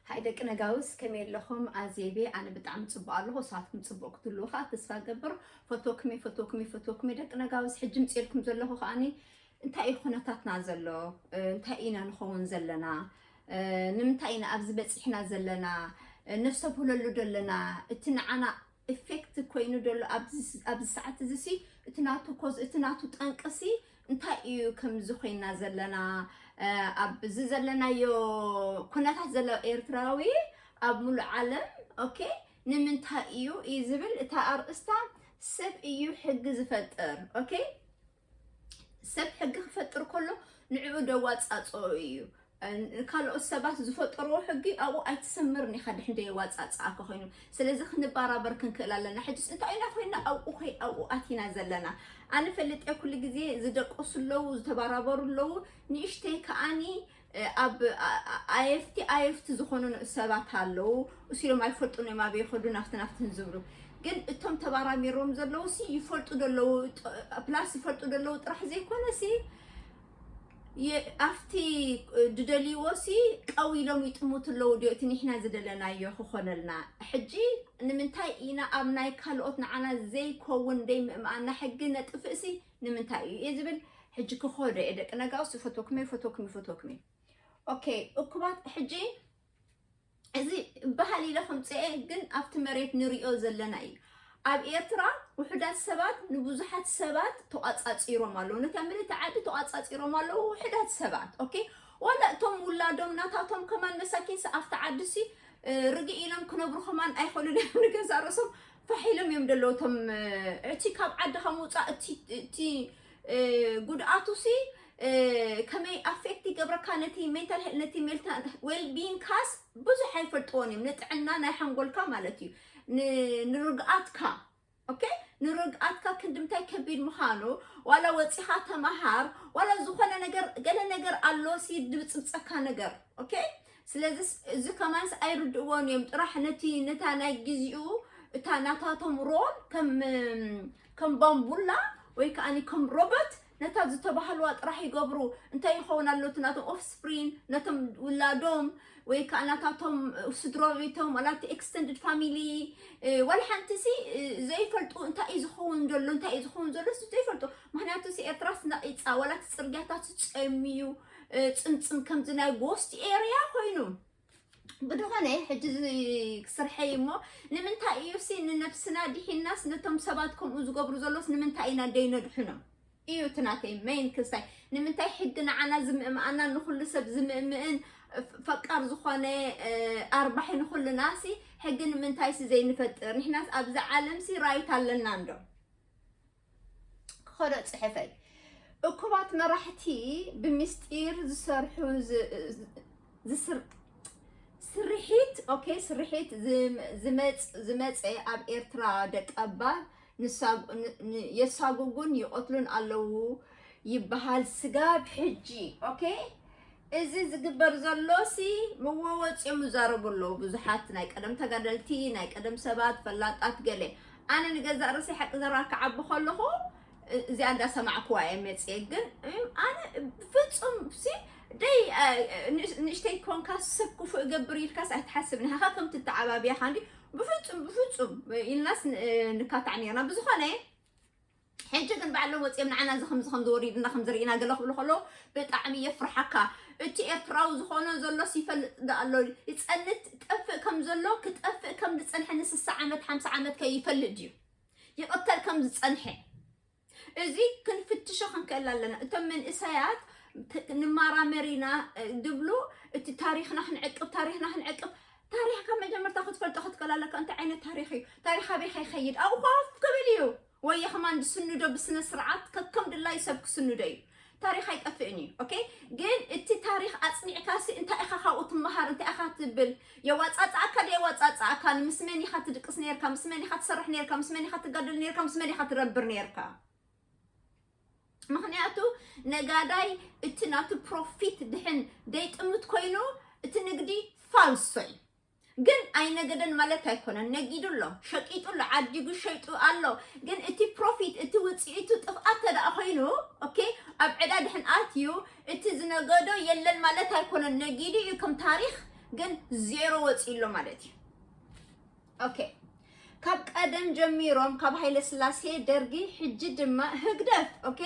ሃይ ደቂ ነጋውስ ከመይ ኣለኹም ኣዜቤ ኣነ ብጣዕሚ ፅቡቅ ኣለኹ ንስኻትኩም ፅቡቅ ክትህልው ከዓ ተስፋ ገብር ፈቶክሜ ፈቶክሜ ፈቶክሜ ደቂ ነጋውስ ሕጂ ምፅኤልኩም ዘለኹ ከዓኒ እንታይ እዩ ኩነታትና ዘሎ እንታይ ኢና ንኸውን ዘለና ንምንታይ ኢና ኣብዚ በፂሕና ዘለና ነፍሰብህለሉ ዘለና እቲ ንዓና ኢፌክት ኮይኑ ዘሎ ኣብዚ ኣብዚ ሰዓት እዚ ሲ እቲ ናቱ ኮዝ እቲ ናቱ ጠንቂ ሲ እንታይ እዩ ከምዚ ኮይና ዘለና እ፣ ኣብዚ ዘለናዮ ኩነታት ዘሎ ኤርትራዊ ኣብ ሙሉእ ዓለም ኦኬ ንምንታይ እዩ እዩ ዝብል እታ ኣርእስታ ሰብ እዩ ሕጊ ዝፈጥር ኦኬ ሰብ ሕጊ ክፈጥር ከሎ ንዕኡ ደዋፃፅኦ እዩ ካልኦት ሰባት ዝፈጠርዎ ሕጊ ኣብኡ ኣይትሰምርን ኢኻ ድሕንደ የዋፃፅኣካ ኮይኑ ስለዚ ክንበራበር ክንክእል ኣለና ሕጅስ እንታይ ኢና ኮይና ኣብኡ ኮይ ኣብኡ ኣቲና ዘለና ኣነ ፈልጥ ኩሉ ግዜ ዝደቀሱ ኣለዉ ዝተበራበሩ ኣለዉ ንእሽተይ ከዓኒ ኣብ ኣየፍቲ ኣየፍቲ ዝኾኑ ንኡሰባት ኣለዉ እሱ ኢሎም ኣይፈልጡን እዮም ኣበይ ይኸዱ ናፍቲ ናፍትን ዝብሉ ግን እቶም ተባራሚሮም ዘለዉ ሲ ይፈልጡ ደለዉ ፕላስ ይፈልጡ ደለዉ ጥራሕ ዘይኮነ ሲ ኣብቲ ድደልይዎ ሲ ቀው ኢሎም ይጥሙት ኣለዉ ዲዮ እቲ ንሕና ዝደለናዮ ክኾነልና ሕጂ ንምንታይ ኢና ኣብ ናይ ካልኦት ንዓና ዘይከውን ደይ ምእምኣና ሕጊ ነጥፍእ ሲ ንምንታይ እዩ እየ ዝብል ሕጂ ክኸዶ እየ ደቂ ነጋውስ ይፈትወኩም እየ ይፈትወኩም ይፈትወኩም እየ ኦኬ እኩባት ሕጂ እዚ ባህል ኢለ ከምፅኤ ግን ኣብቲ መሬት ንሪኦ ዘለና እዩ ኣብ ኤርትራ ውሕዳት ሰባት ንብዙሓት ሰባት ተቋፃፂሮም ኣለዉ ነታ ምልእቲ ዓዲ ተቋፃፂሮም ኣለዉ ውሕዳት ሰባት ኦኬ ዋላ እቶም ውላዶም ናታቶም ከማን መሳኪንሲ ኣብቲ ዓዲሲ እ፣ ርግእ ኢሎም ክነብሩ ከማን ኣይኽእሉን እዮም ንገዛ ርእሶም ፋሕ ኢሎም እዮም ደለዉ እቶም እቲ ካብ ዓድኻ ምውፃእ እቲ ጉድኣቱሲ ከመይ ኣፌክት ይገብረካ ነቲ ሜንታል ሄል ነቲ ሜልታ ዌልቢን ካስ ብዙሕ ኣይፈልጥዎን እዮም ንጥዕና ናይ ሓንጎልካ ማለት እዩ ንርግኣትካ ኦኬ ንርግኣትካ ክንድምታይ ከቢድ ምዃኑ ዋላ ወፂኻ ተምሃር ዋላ ዝኾነ ነገር ገለ ነገር ኣሎ ሲ ድብፅብፀካ ነገር ኦኬ ስለዚ እዚ ከማንስ ኣይርድእዎን እዮም ጥራሕ ነቲ ነታ ናይ ግዜኡ እታ ናታቶም ሮል ከም ከም ባምቡላ ወይ ከዓ ከም ሮቦት ነታ ዝተባህልዋ ጥራሕ ይገብሩ እንታይ ይኸውን ኣሎ እቲ ናቶም ኦፍስፕሪን ነቶም ውላዶም ወይ ከዓ ናታቶም ስድሮ ቤቶም ዋላ እቲ ኤክስተንድድ ፋሚሊ ዋላ ሓንቲ ሲ ዘይፈልጡ እንታይ እዩ ዝኸውን ዘሎ እንታይ እዩ ዝኸውን ዘሎ ዘይፈልጡ ምክንያቱ ሲ ኤርትራስ ነቒፃ ዋላ እቲ ፅርግያታት ጸምዩ ፅምፅም ከምዚ ናይ ጎስት ኤርያ ኮይኑ ብድኾነ ሕጂ ስርሐይ እሞ ንምንታይ እዩ ሲ ንነብስና ዲሒናስ ነቶም ሰባት ከምኡ ዝገብሩ ዘሎስ ንምንታይ ኢና ደይነድሕኖም እዩ እቲ ናተይ መይን ክስታይ ንምንታይ ሕጊ ንዓና ዝምእምኣና ንኩሉ ሰብ ዝምእምእን ፈቃር ዝኾነ ኣርባሒ ንኩልና ሲ ሕጊ ንምንታይ ሲ ዘይንፈጥር ንሕናስ ኣብዚ ዓለም ሲ ራይት ኣለና እንዶ ክኸዶ ፅሕፈይ እኩባት መራሕቲ ብምስጢር ዝሰርሑ ስርሒት ኦኬ ስርሒት ዝመፀ ኣብ ኤርትራ ደቀባር የሳጉጉን ይቐትሉን ኣለዉ ይበሃል ስጋብ ሕጂ ኦኬ እዚ ዝግበር ዘሎሲ ምወወጽዮም ይዛረቡ ኣለዉ ብዙሓት ናይ ቀደም ተጋደልቲ ናይ ቀደም ሰባት ፈላጣት ገለ ኣነ ንገዛእ ርእሰይ ሓቂ ዘረባ ክዓቢ ከለኹ እዚኣ እንዳ ሰማዕኩዋ እየ መጽየ ግን ኣነ ፍጹም ሲ ደይ ንእሽተይ ኮንካ ሰብ ክፉእ እገብር ኢልካስ ኣይትሓስብን ሃኻ ከም ትተዓባብያ ካንዲ ብፍጹም ብፍጹም ኢልናስ ንካታዕ ነርና ብዝኾነ ሕጂ ግን ባዕሎም ወጺኦም ንዓና እዚ ከምዚ ከምዚ ወሪድና ከምዚ ርኢና ገለ ክብሉ ከለዉ ብጣዕሚ የፍርሓካ እቲ ኤርትራዊ ዝኾኖ ዘሎስ ይፈልጥ ዶ ኣሎ ይጸንት ጠፍእ ከም ዘሎ ክጠፍእ ከም ዝጸንሐ ንስሳ ዓመት ሓምሳ ዓመት ከ ይፈልጥ ድዩ ይቕተል ከም ዝጸንሐ እዚ ክንፍትሾ ክንክእል ኣለና እቶም መንእሰያት ት- ንማራመር ኢና እ፣ ድብሉ እቲ ታሪኽና ክንዕቅብ ታሪኽና ክንዕቅብ ታሪኽ ካብ መጀመርታ ክትፈልጦ ክትክእል ኣለካ እንታይ ዓይነት ታሪኽ እዩ ታሪኽ ኣበይ ከይኸይድ ኣብኡ ኮፍ ክብል እዩ ወየ ከማን ዝስንዶ ብስነ ስርዓት ከከም ድላዩ ሰብ ክስንዶ እዩ ታሪክ ኣይጠፍእን እዩ ኦኬ ግን እቲ ታሪክ ኣፅኒዕካሲ እንታይ ኢካ ካብኡ ትመሃር እንታይ ኢካ ትብል የዋፃፅኣካ ዶ የዋፃፅኣካ ምስ መን ኢካ ትድቅስ ነርካ ምስ መን ኢካ ትሰርሕ ነርካ ምስ መን ኢካ ትጋደል ነርካ ምስ መን ኢካ ትረብር ነርካ ምክንያቱ ነጋዳይ እቲ ናቱ ፕሮፊት ድሕን ደይጥምት ኮይኑ እቲ ንግዲ ፋልሶ እዩ ግን ኣይነገደን ማለት ኣይኮነን። ነጊዱ ኣሎ፣ ሸቂጡ ኣሎ፣ ዓዲጉ ሸይጡ ኣሎ። ግን እቲ ፕሮፊት እቲ ውፅኢቱ ጥፍኣት ተደኣ ኮይኑ ኦኬ ኣብ ዕዳ ድሕን ኣትዩ እቲ ዝነገዶ የለን ማለት ኣይኮነን። ነጊዱ እዩ ከም ታሪክ ግን ዜሮ ወፂኡ ኣሎ ማለት እዩ። ኦኬ ካብ ቀደም ጀሚሮም ካብ ሃይለ ስላሴ ደርጊ ሕጂ ድማ ህግደፍ ኦኬ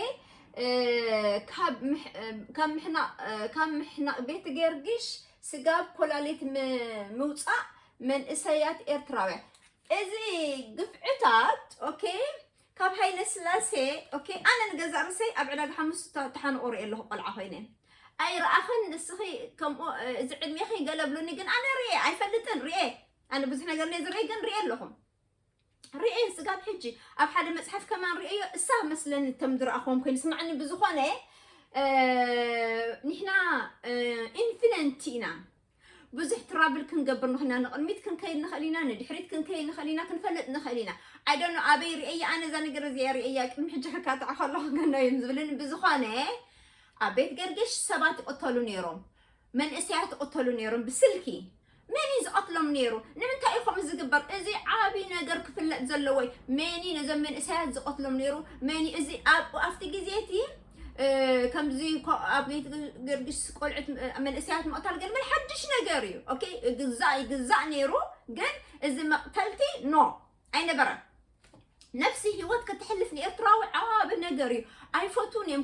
ካብ ምሕናቕ ቤት ገርግሽ ስጋ ኣብ ኮላሊት ምውፃእ መንእሰያት ኤርትራውያን እዚ ግፍዕታት ኦኬ ካብ ሃይለ ስላሴ ኦኬ ኣነ ንገዛ ርሰይ ኣብ ዕዳጋ ሓሙስ ተሓንቆ ሪኦ ኣለኹ ቆልዓ ኮይነ ኣይረኣኽን ንስኺ ከምኡ እዚ ዕድሜኺ ገለብሉኒ ግን ኣነ ርኤ ኣይፈልጥን ርኤ ኣነ ብዙሕ ነገር ነ ዝርኢ ግን ርኤ ኣለኹም ርእየን ጽጋብ ሕጂ ኣብ ሓደ መጽሓፍ ከማን ርእዮ እሳ መስለኒ ከም ዝረኣኹዎም ኮይኑ ስማዕኒ ብዝኾነ ንሕና ኢንፊነንቲ ኢና ብዙሕ ትራብል ክንገብር ንኽና ንቕድሚት ክንከይድ ንኽእል ኢና ንድሕሪት ክንከይድ ንኽእል ኢና ክንፈልጥ ንኽእል ኢና ኣይደኖ ኣበይ ርእየያ ኣነ እዛ ነገር እዚኣ ርእየያ ቅድሚ ሕጂ ክካትዕ ከለኹ ገኖ እዮም ዝብልን ብዝኾነ ኣብ ቤት ገርጌሽ ሰባት ይቕተሉ ነይሮም መንእሰያት ይቕተሉ ነይሮም ብስልኪ መን እዩ ዝቐትሎም ነይሩ? ንምንታይ እዩ ከምኡ ዝግበር? እዚ ዓብዪ ነገር ክፍለጥ ዘለዎ እዩ። መን እዩ ነዞም መንእሰያት ዝቐትሎም ነይሩ? መን እዩ እዚ ኣብ ኣብቲ ግዜ እቲ እ፣ ከምዚ ኮ- ኣብ ቤት ገርግስ ቆልዑት እ፣ መንእሰያት ምቕታል ግን ምን ሓድሽ ነገር እዩ። ኦኬ ይግዛእ ይግዛእ ነይሩ፣ ግን እዚ መቕተልቲ ኖ ኣይነበረን። ነብሲ ሂወት ከተሕልፍ ንኤርትራዊ ዓቢ ነገር እዩ ኣይፈትዉን እዮም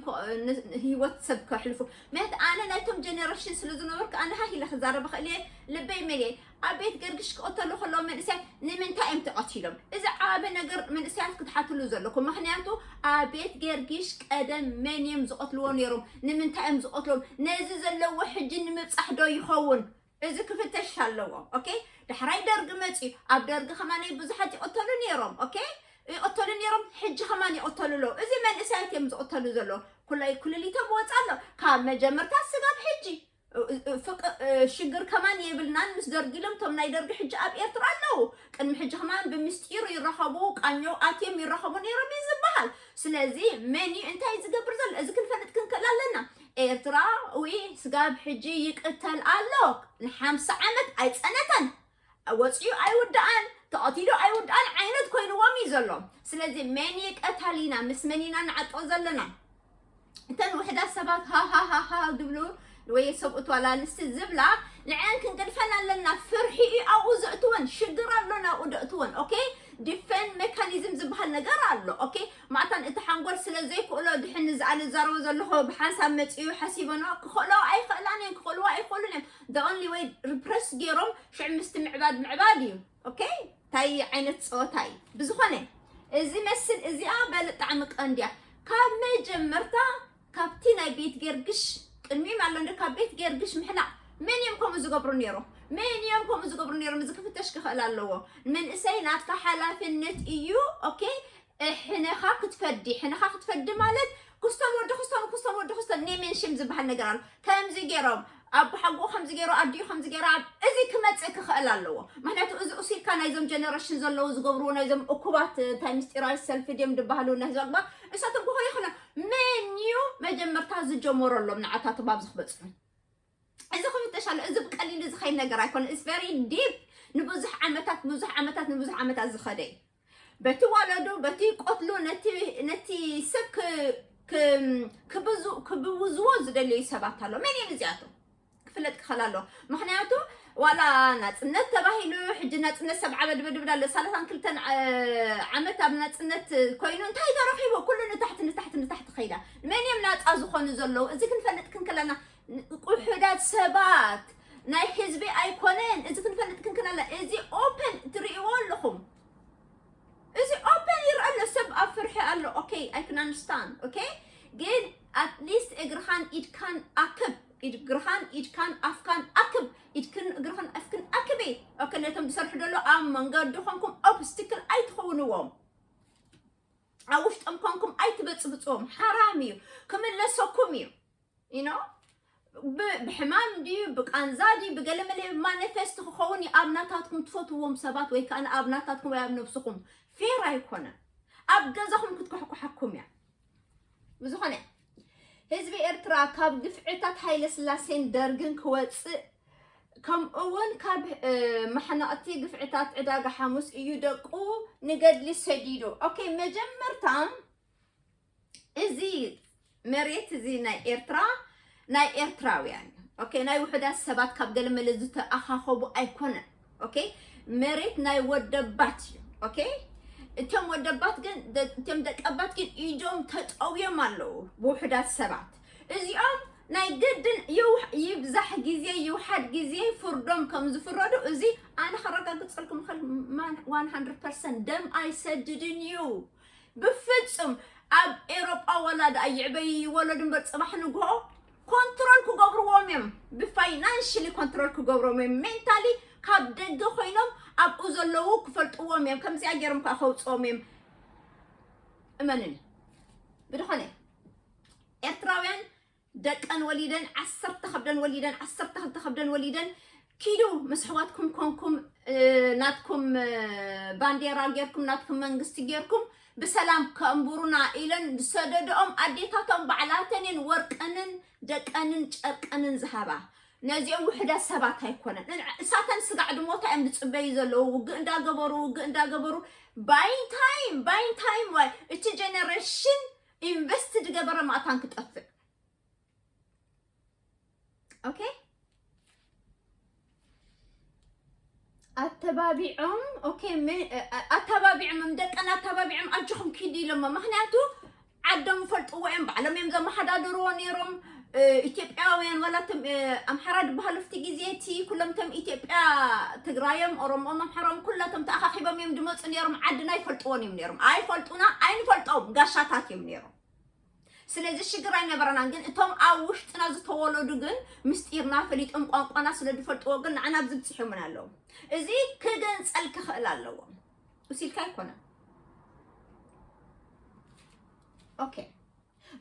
ሂወት ሰብ ከሕልፉ ምክንያቱ ኣነ ናይቶም ጀነሬሽን ስለ ዝነበርኩ ኣነ ሃህ ኢለ ክዛረብ እኽእል እየ ልበይ መሊየ ኣብ ቤት ገርግሽ ክቐተሉ ከለዉ መንእሰያት ንምንታይ እዮም ተቐቲሎም እዚ ዓቢ ነገር መንእሰያት ክትሓትሉ ዘለኩም ምክንያቱ ኣብ ቤት ገርግሽ ቀደም መን እዮም ዝቐትልዎ ነይሮም ንምንታይ እዮም ዝቐትሎም ነዚ ዘለዎ ሕጂ ንምብፃሕ ዶ ይኸውን እዚ ክፍተሽ ኣለዎ ኦኬ ዳሕራይ ደርጊ መፅዩ ኣብ ደርጊ ከማን ብዙሓት ይቕተሉ ነይሮም ኦኬ ይቕተሉ ነይሮም ሕጂ ከማን ይቕተሉ ኣለዉ እዚ መንእሰያት እዮም ዝቕተሉ ዘለዉ ኩላይ ኩልሊቶም ወፃ ኣሎ ካብ መጀመርታ ስጋብ ሕጂ ፍቅ ሽግር ከማን የብልናን ምስ ደርጊ ኢሎም እቶም ናይ ደርጊ ሕጂ ኣብ ኤርትራ ኣለዉ ቅድሚ ሕጂ ከማን ብምስጢር ይራኸቡ ቃኞ ኣትዮም ይራኸቡ ነይሮም እዩ ዝበሃል ስለዚ መን እዩ እንታይ እዩ ዝገብር ዘሎ እዚ ክንፈልጥ ክንክእል ኣለና ኤርትራዊ ስጋብ ሕጂ ይቅተል ኣሎ ንሓምሳ ዓመት ኣይጸነተን ወጽዩ ኣይውዳኣን ተቀቲሉ ኣይውዳኣን ዓይነት ኮይንዎም እዩ ዘሎ ስለዚ መን ይቀታል ኢና ምስ መን ኢና ንዓጦ ዘለና እተን ውሕዳት ሰባት ሃሃሃሃ ዝብሉ ወይ ሰብኡት ዋላ ኣንስቲ ዝብላ ንዐን ክንቅድፈን ኣለና ፍርሒ እዩ ኣብኡ ዘእትወን ሽግር ኣሎ ናብኡ ደእትወን ኦኬ ዲፌን ሜካኒዝም ዝበሃል ነገር ኣሎ ኦኬ ማታን እቲ ሓንጎል ስለ ዘይክእሎ ድሕን ንዝኣለ ዝዛረቦ ዘለኹ ብሓንሳብ መጺኡ ሓሲበኖ ክኽእለኦ ኣይኽእላን እየን ክኽእልዎ ኣይኽእሉን እዮም the only way repress ጌሮም ሽዑ ምስቲ ምዕባድ ምዕባድ እዩ okay ታይ ዓይነት ጸወታ እዩ ብዝኾነ እዚ መስል እዚኣ በል ጣዕሚ ቀንዲ እያ ካብ መጀመርታ ካብቲ ናይ ቤት ጌርግሽ ቅድሚም ኣሎ እንዶ ካብ ቤት ጌርግሽ ምሕላቕ መን እዮም ከምኡ ዝገብሩ ነይሮም መን እዮም ከምኡ ዝገብሩ ነይሮም እዚ ክፍተሽ ክኽእል ኣለዎ መንእሰይ ናትካ ሓላፍነት እዩ ኦኬ ሕነኻ ክትፈዲ ሕነኻ ክትፈዲ ማለት ክስቶን ወዲ ክስቶን ክስቶን ወዲ ክስቶን ኔሜንሽም ዝበሃል ነገር ኣሎ ከምዚ ገይሮም ኣቦሓጎኡ ከምዚ ገይሩ ኣዲኡ ከምዚ ገይራ እዚ ክመጽእ ክኽእል ኣለዎ ምክንያቱ እዚ ኡሲርካ ናይዞም ጀነረሽን ዘለዉ ዝገብርዎ ናይዞም እኩባት እንታይ ምስጢራዊ ሰልፊ ድዮም ድባህሉ ናይ ህዝቢ ኣግባር እሳቶም ክኾ ይኽእሉ መን እዩ መጀመርታ ዝጀመረሎም ንዓታቶም ኣብዚ ክበጽሑ እዚ ክፍተሽ ኣሎ እዚ ብቀሊሉ ዝኸይድ ነገር ኣይኮነ ኢስ ቨሪ ዲፕ ንብዙሕ ዓመታት ብዙሕ ዓመታት ንብዙሕ ዓመታት ዝኸደ እዩ በቲ ወለዱ በቲ ቆትሉ ነቲ ሰብ ክብውዝዎ ዝደለዩ ሰባት ኣሎ መን እዮም እዚኣቶም ክፍለጥ ክኸል ኣሎ ምክንያቱ ዋላ ናፅነት ተባሂሉ ሕጂ ናፅነት ሰብዓ በድበድብድ ኣሎ ሳላሳን ክልተን ዓመት ኣብ ናፅነት ኮይኑ እንታይ ተረኪቦ ኩሉ ንታሕቲ ንታሕቲ ንታሕቲ ከይዳ መን እዮም ናፃ ዝኾኑ ዘለዉ እዚ ክንፈልጥ ክንክለና ቁሑዳት ሰባት ናይ ሕዝቢ ኣይኮነን እዚ ክንፈልጥ ክንክን ኣላ እዚ ኦፐን ትርእይዎ ኣለኹም እዚ ኦፐን ይርኣ ኣሎ ሰብ ኣብ ፍርሒ ኣሎ ኦኬ ኣይ ክን ኣንደርስታንድ ኦኬ ግን ኣትሊስት እግርኻን ኢድካን ኣክብ እግርኻን ኢድካን ኣፍካን ኣክብ ኢድክን እግርኽን ኣፍክን ኣክቢ ኦኬ ነቶም ዝሰርሑ ደሎ ኣብ መንገዲ ኮንኩም ኦብስትክል ኣይትኸውንዎም ኣብ ውሽጦም ኮንኩም ኣይትበፅብፅዎም ሓራም እዩ ክምለሰኩም እዩ ኢኖ ብሕማም ድዩ ብቃንዛ ድዩ ብገለመለ ማኒፌስት ክኸውን እዩ ኣብ ናታትኩም ትፈትዎም ሰባት ወይ ከዓ ኣብ ናታትኩም ወይ ኣብ ነብስኹም ፌር ኣይኮነ ኣብ ገዛኹም ክትኩሕኩሓኩም እያ ብዝኾነ ህዝቢ ኤርትራ ካብ ግፍዕታት ሃይለ ስላሴን ደርግን ክወፅእ ከምኡውን ካብ ማሕነቕቲ ግፍዕታት ዕዳጋ ሓሙስ እዩ ደቁ ንገድሊ ሰዲዱ ኦኬ መጀመርታ እዚ መሬት እዚ ናይ ኤርትራ ናይ ኤርትራውያን እዩ ኦኬ ናይ ውሑዳት ሰባት ካብ ገለ መለ ዝተኣኻኸቡ ኣይኮነን ኦኬ መሬት ናይ ወደባት እዩ ኦኬ እቶም ወደባት ግን ደ- እቶም ደቀባት ግን ኢዶም ተጠውዮም ኣለዉ ብውሑዳት ሰባት እዚኦም ናይ ግድን ይውሕ- ይብዛሕ ግዜ ይውሓድ ግዜ ፍርዶም ከም ዝፍረዱ እዚ ኣነ ከረጋግፀልኩም ኸል 100 ደም ኣይሰድድን እዩ ብፍጹም ኣብ ኤሮጳ ዋላ ድኣ ይዕበዩ ይወለዱ እምበር ጽባሕ ንግሆ ኮንትሮል ክገብርዎም እዮም ብፋይናንሽሊ ኮንትሮል ክገብሮም እዮም ሜንታሊ ካብ ደገ ኮይኖም ኣብኡ ዘለዉ ክፈልጥዎም እዮም ከምዚኣ ገይሮም ከዓ ከውፅኦም እዮም እመንኒ ብድኾነ ኤርትራውያን ደቀን ወሊደን ዓሰርተ ከብደን ወሊደን ዓሰርተ ክልተ ከብደን ወሊደን ኪዱ ምስ ኣሕዋትኩም ኮንኩም ናትኩም ባንዴራ ጌርኩም ናትኩም መንግስቲ ጌርኩም ብሰላም ከእንቡሩና ኢለን ዝሰደደኦም ኣዴታቶም ባዕላተን እየን ወርቀንን ደቀንን ጨርቀንን ዝሃባ ነዚኦም ውሕዳት ሰባት ኣይኮነን እሳተን ስጋዕ ድሞታ እዮም ዝፅበዩ ዘለዉ ውግእ እንዳገበሩ ውግእ እንዳገበሩ ባይንታይም ባይንታይም ዋይ እቲ ጀነሬሽን ኢንቨስት ዝገበረ ማእታን ክጠፍእ ኦኬ ኣተባቢዖም ኦኬ ኣተባቢዖም ደቀን ኣተባቢዖም ኣጆኹም ኪዱ ኢሎሞ ምክንያቱ ዓዶም ይፈልጥዎ እዮም ባዕሎም እዮም ዘመሓዳድርዎ ነይሮም ኢትዮጵያውያን ዋላ እቶም ኣምሓራ ድበሃሉ ኣብቲ ግዜ እቲ ኩሎም እቶም ኢትዮጵያ ትግራዮም ኦሮሞኦም ኣምሓራኦም ኩላቶም ተኣኻኺቦም እዮም ድመፁ ነይሮም ዓድና ኣይፈልጥዎን እዮም ነይሮም ኣይፈልጡና ኣይንፈልጦም ጋሻታት እዮም ነይሮም ስለዚ ሽግር ኣይነበረናን ግን እቶም ኣብ ውሽጥና ዝተወለዱ ግን ምስጢርና ፈሊጦም ቋንቋና ስለ ዝፈልጥዎ ግን ንዓና ኣብዚ ብፅሖምን ኣለዉ እዚ ክግንፀል ክኽእል ኣለዎ እሲልካ ኣይኮነን ኦኬ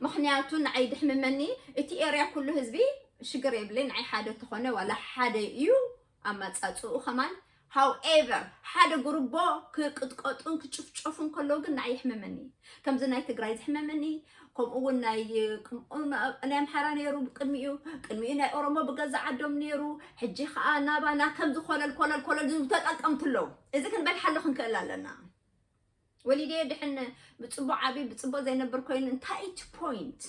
ምክንያቱ ንዓይ ድሕምመኒ እቲ ኤርያ ኩሉ ህዝቢ ሽግር የብለይ ንዓይ ሓደ ተኾነ ዋላ ሓደ እዩ ኣማጻጽኡ ከማን ሃው ኤቨር ሓደ ጉርቦ ክቅጥቀጡን ክጭፍጨፉን ከለዉ ግን ንዓይ ይሕምመኒ ከምዚ ናይ ትግራይ ዝሕመመኒ ከምኡ እውን ናይ ናይ ኣምሓራ ነይሩ ቅድሚኡ ቅድሚኡ ናይ ኦሮሞ ብገዛ ዓዶም ነይሩ ሕጂ ከዓ ናባና ከምዚ ኮለል ኮለል ኮለል ዝብሉ ተጠቀምቲ ኣለዉ እዚ ክንበልሓሉ ክንክእል ኣለና ወሊደዮ ድሕን ብፅቡቅ ዓብዩ ብፅቡቅ ዘይነብር ኮይኑ እንታይ እቲ ፖይንት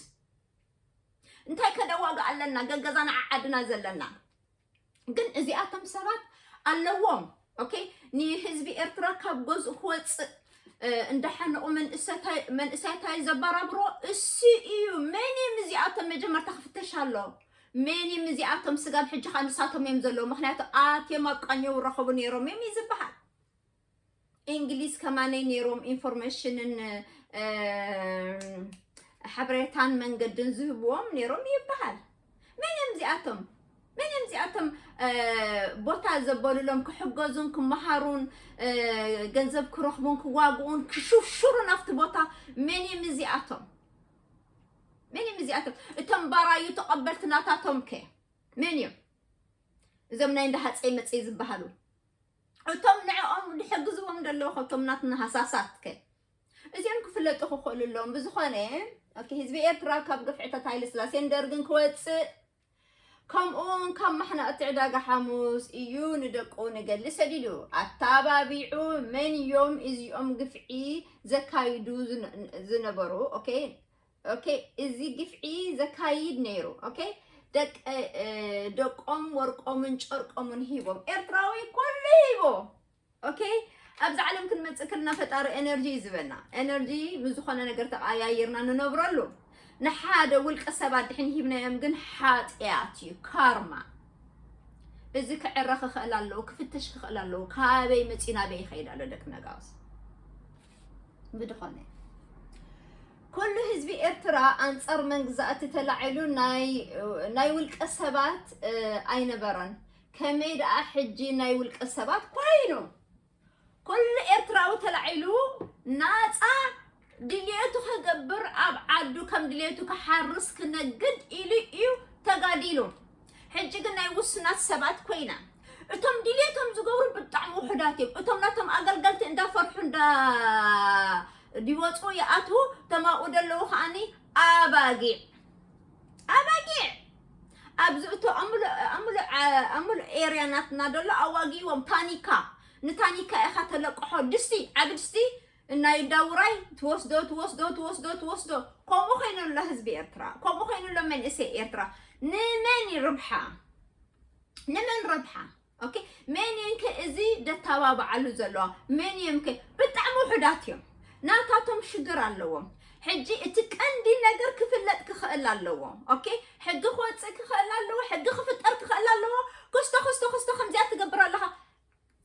እንታይ ከደዋጋ ኣለና ገገዛና ዓዓድና ዘለና ግን እዚኣቶም ሰባት ኣለዎም ኦኬ ንህዝቢ ኤርትራ ካብ ገዝኡ ክወፅእ እንዳሓነቑ መንእሰያታይ ዘበራብሮ እሱ እዩ መን እም እዚኣቶም መጀመርታ ክፍተሽ ኣሎ መን እም እዚኣቶም ስጋብ ሕጂ ከዓ ንሳቶም እዮም ዘለዉ ምክንያቱ ኣትዮም ኣብ ቃኘው ረኸቡ ነይሮም እዮም እዩ ዝበሃል እንግሊዝ ከማነይ ነይሮም ኢንፎርሜሽንን ሓበሬታን መንገድን ዝህብዎም ነይሮም ይበሃል። መን እዮም እዚኣቶም? መን እዮም እዚኣቶም ቦታ ዘበሉሎም ክሕገዙን ክመሃሩን ገንዘብ ክረኽቡን ክዋግኡን ክሽርሽሩን ኣብቲ ቦታ መን እዮም እዚኣቶም? መን እዮም እዚኣቶም? እቶም ባራዩ ተቐበልቲ ናታቶም ከ መን እዮም? እዞም ናይ እንዳ ሃፀይ መፀይ ዝበሃሉ እቶም ንዕኦም ዝሕግዝዎም ዘለዉ ከቶም ናትና ሃሳሳት ከ እዚኦም ክፍለጡ ክኽእሉ ኣለዎም ብዝኾነ ኦኬ ህዝቢ ኤርትራ ካብ ግፍዕታት ሃይለ ስላሴን ደርግን ክወፅእ ከምኡውን ካብ ማሕናቕቲ ዕዳጋ ሓሙስ እዩ ንደቁ ንገሊ ሰዲዱ ኣተባቢዑ መን እዮም እዚኦም ግፍዒ ዘካይዱ ዝነ- ዝነበሩ ኦኬ ኦኬ እዚ ግፍዒ ዘካይድ ነይሩ ኦኬ ደቀ ደቆም ወርቆምን ጨርቆምን ሂቦም ኤርትራዊ ኩሉ ሂቦ ኦኬ ኣብዚ ዓለም ክንመፅእ ከለና ፈጣሪ ኤነርጂ እዩ ዝበና ኤነርጂ ንዝኾነ ነገር ተቀያይርና ንነብረሉ ንሓደ ውልቀ ሰባት ድሕን ሂብናዮም ግን ሓጢኣት እዩ ካርማ እዚ ክዕረ ክኽእል ኣለዎ ክፍተሽ ክኽእል ኣለዎ ካበይ መፂኡ ናበይ ይኸይድ ኣሎ ደቂ ነጋውስ ብድኾነ ኩሉ ህዝቢ ኤርትራ ኣንጻር መንግዛእቲ ተላዒሉ ናይ ውልቀ ሰባት ኣይነበረን። ከመይ ደኣ ሕጂ ናይ ውልቀ ሰባት ኮይኑ ኩሉ ኤርትራዊ ተላዒሉ ናፃ ድልየቱ ከገብር ኣብ ዓዱ ከም ድልየቱ ክሓርስ ክነግድ ኢሉ እዩ ተጋዲሉ። ሕጂ ግን ናይ ውሱናት ሰባት ኮይና እቶም ድልየቶም ዝገብሩ ብጣዕሚ ውሑዳት እዮም እቶም ናቶም ኣገልገልቲ እንዳፈርሑ እንዳ ይወፁ ይኣትዉ እቶም ኣብኡ ደለዉ ከዓኒ ኣባጊዕ ኣባጊዕ ኣብዚ እቶ ኣምሉ ኤርያ ናትና ደሎ ኣዋጊዎም ታኒካ ንታኒካ ኢኻ ተለቅሖ ድስቲ ዓቢ ድስቲ እና ይዳ ውራይ ትወስዶ ትወስዶ ትወስዶ ትወስዶ ከምኡ ኮይኑ ኣሎ ህዝቢ ኤርትራ ከምኡ ኮይኑ ኣሎ መንእሰይ ኤርትራ ንመን ይርብሓ ንመን ረብሓ ኦኬ መን እየን ከ እዚ ደተባብዓሉ ዘለዋ መን እየም ከ ብጣዕሚ ውሑዳት እዮም ናታቶም ሽግር ኣለዎም ሕጂ እቲ ቀንዲ ነገር ክፍለጥ ክኽእል ኣለዎ ኦኬ ሕጊ ክወፅእ ክኽእል ኣለዎ ሕጊ ክፍጠር ክኽእል ኣለዎ ክስቶ ክስቶ ክስቶ ከምዚኣ ትገብር ኣለኻ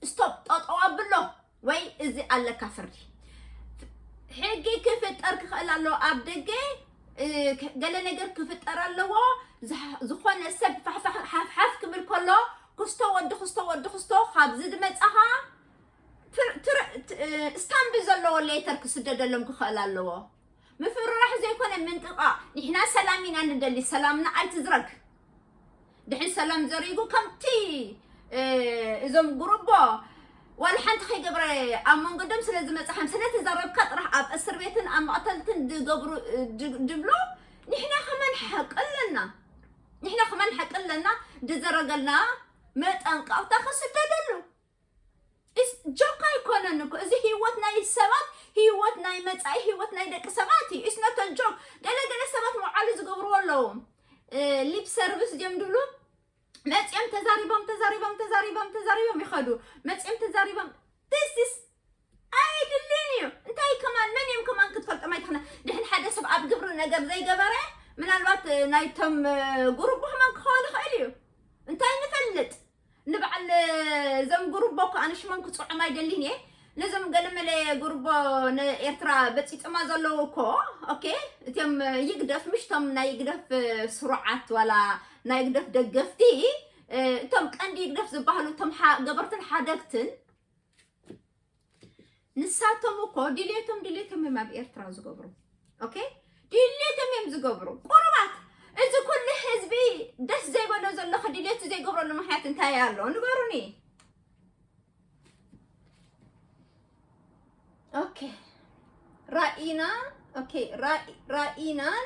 ስቶፕ ጠጠው ኣብሎ ወይ እዚ ኣለካ ፍርዲ ሕጊ ክፍጠር ክኽእል ኣለዎ ኣብ ደገ እ፣ ከ- ገለ ነገር ክፍጠር ኣለዎ ዝሕ- ዝኾነ ሰብ ፋሕፋሕ ሓፍሓፍ ክብል ከሎ ክስቶ ወዲ ክስቶ ወዲ ክስቶ ካብዚ ዝመፃኻ ትር- ትር- ት- እ፣ ስታምቢ ዘለዎ ሌተር ክስደደሎም ክኽእል ኣለዎ ምፍርራሕ ዘይኮነ ምንጥቃ ንሕና ሰላም ኢና ንደሊ ሰላምና ኣይትዝረግ ድሕን ሰላም ዘሪጉ ከምቲ እዞም ጉርቦ ዋላ ሓንቲ ከይገብረ ኣብ መንጎ ደም ስለ ዝመፅሓም ስለ ተዛረብካ ጥራሕ ኣብ እስር ቤትን ኣብ መቕተልትን ዝገብሩ ድብሎ ንሕና ከመን ሓቂ ኣለና ንሕና ከመን ሓቂ ኣለና ድዘረገልና መጠንቀቕታ ክስደደሉ ኢስ ጆክ ኣይኮነን እኮ እዚ ሂወት ናይ ሰባት ሂወት ናይ መጻኢ ሂወት ናይ ደቂ ሰባት እዩ ኢስ ኖት ኣ ጆክ ገለ ገለ ሰባት መውዓሊ ዝገብርዎ ኣለዉ ሊፕ ሰርቪስ ድዮም ድብሉ መጺኦም ተዛሪቦም ተዛሪቦም ተዛሪቦም ተዛሪቦም ይኸዱ መጺኦም ተዛሪቦም this is ኣይድልን እዩ እንታይ ከማን መን እዮም ከማን ክትፈልጦም ኣይትኽእልን ድሕን ሓደ ሰብ ኣብ ግብሪ ነገር ዘይገበረ ምናልባት ናይቶም ጉሩብ ከማን ክኸውን ይኽእል እዩ እንታይ ንፈልጥ ንበዓል ዘም ጉርቦ ከኣ ንሽሞም ክጽዖም ኣይደሊን እየ ነዞም ገለመለ ጉርቦ ንኤርትራ በጺጽማ ዘለዉ እኮ ኦኬ እትም ይግደፍ ምሽቶም ናይ ይግደፍ ስሩዓት ዋላ ናይ ይግደፍ ደገፍቲ እቶም ቀንዲ ይግደፍ ዝበሃሉ እቶም ገበርትን ሓደግትን ንሳቶም እኮ ድሌቶም ድሌቶም እዮም ኣብ ኤርትራ ዝገብሩ ኦኬ ድሌቶም እዮም ዝገብሩ ቁርባት እዚ ኩሉ ህዝቢ ደስ ዘይበሎ ዘለኹ ድሌቱ ዘይገብረሉ ምክንያት እንታይ ኣሎ ንገሩኒ ኦኬ ራኢና ኦኬ ራኢናን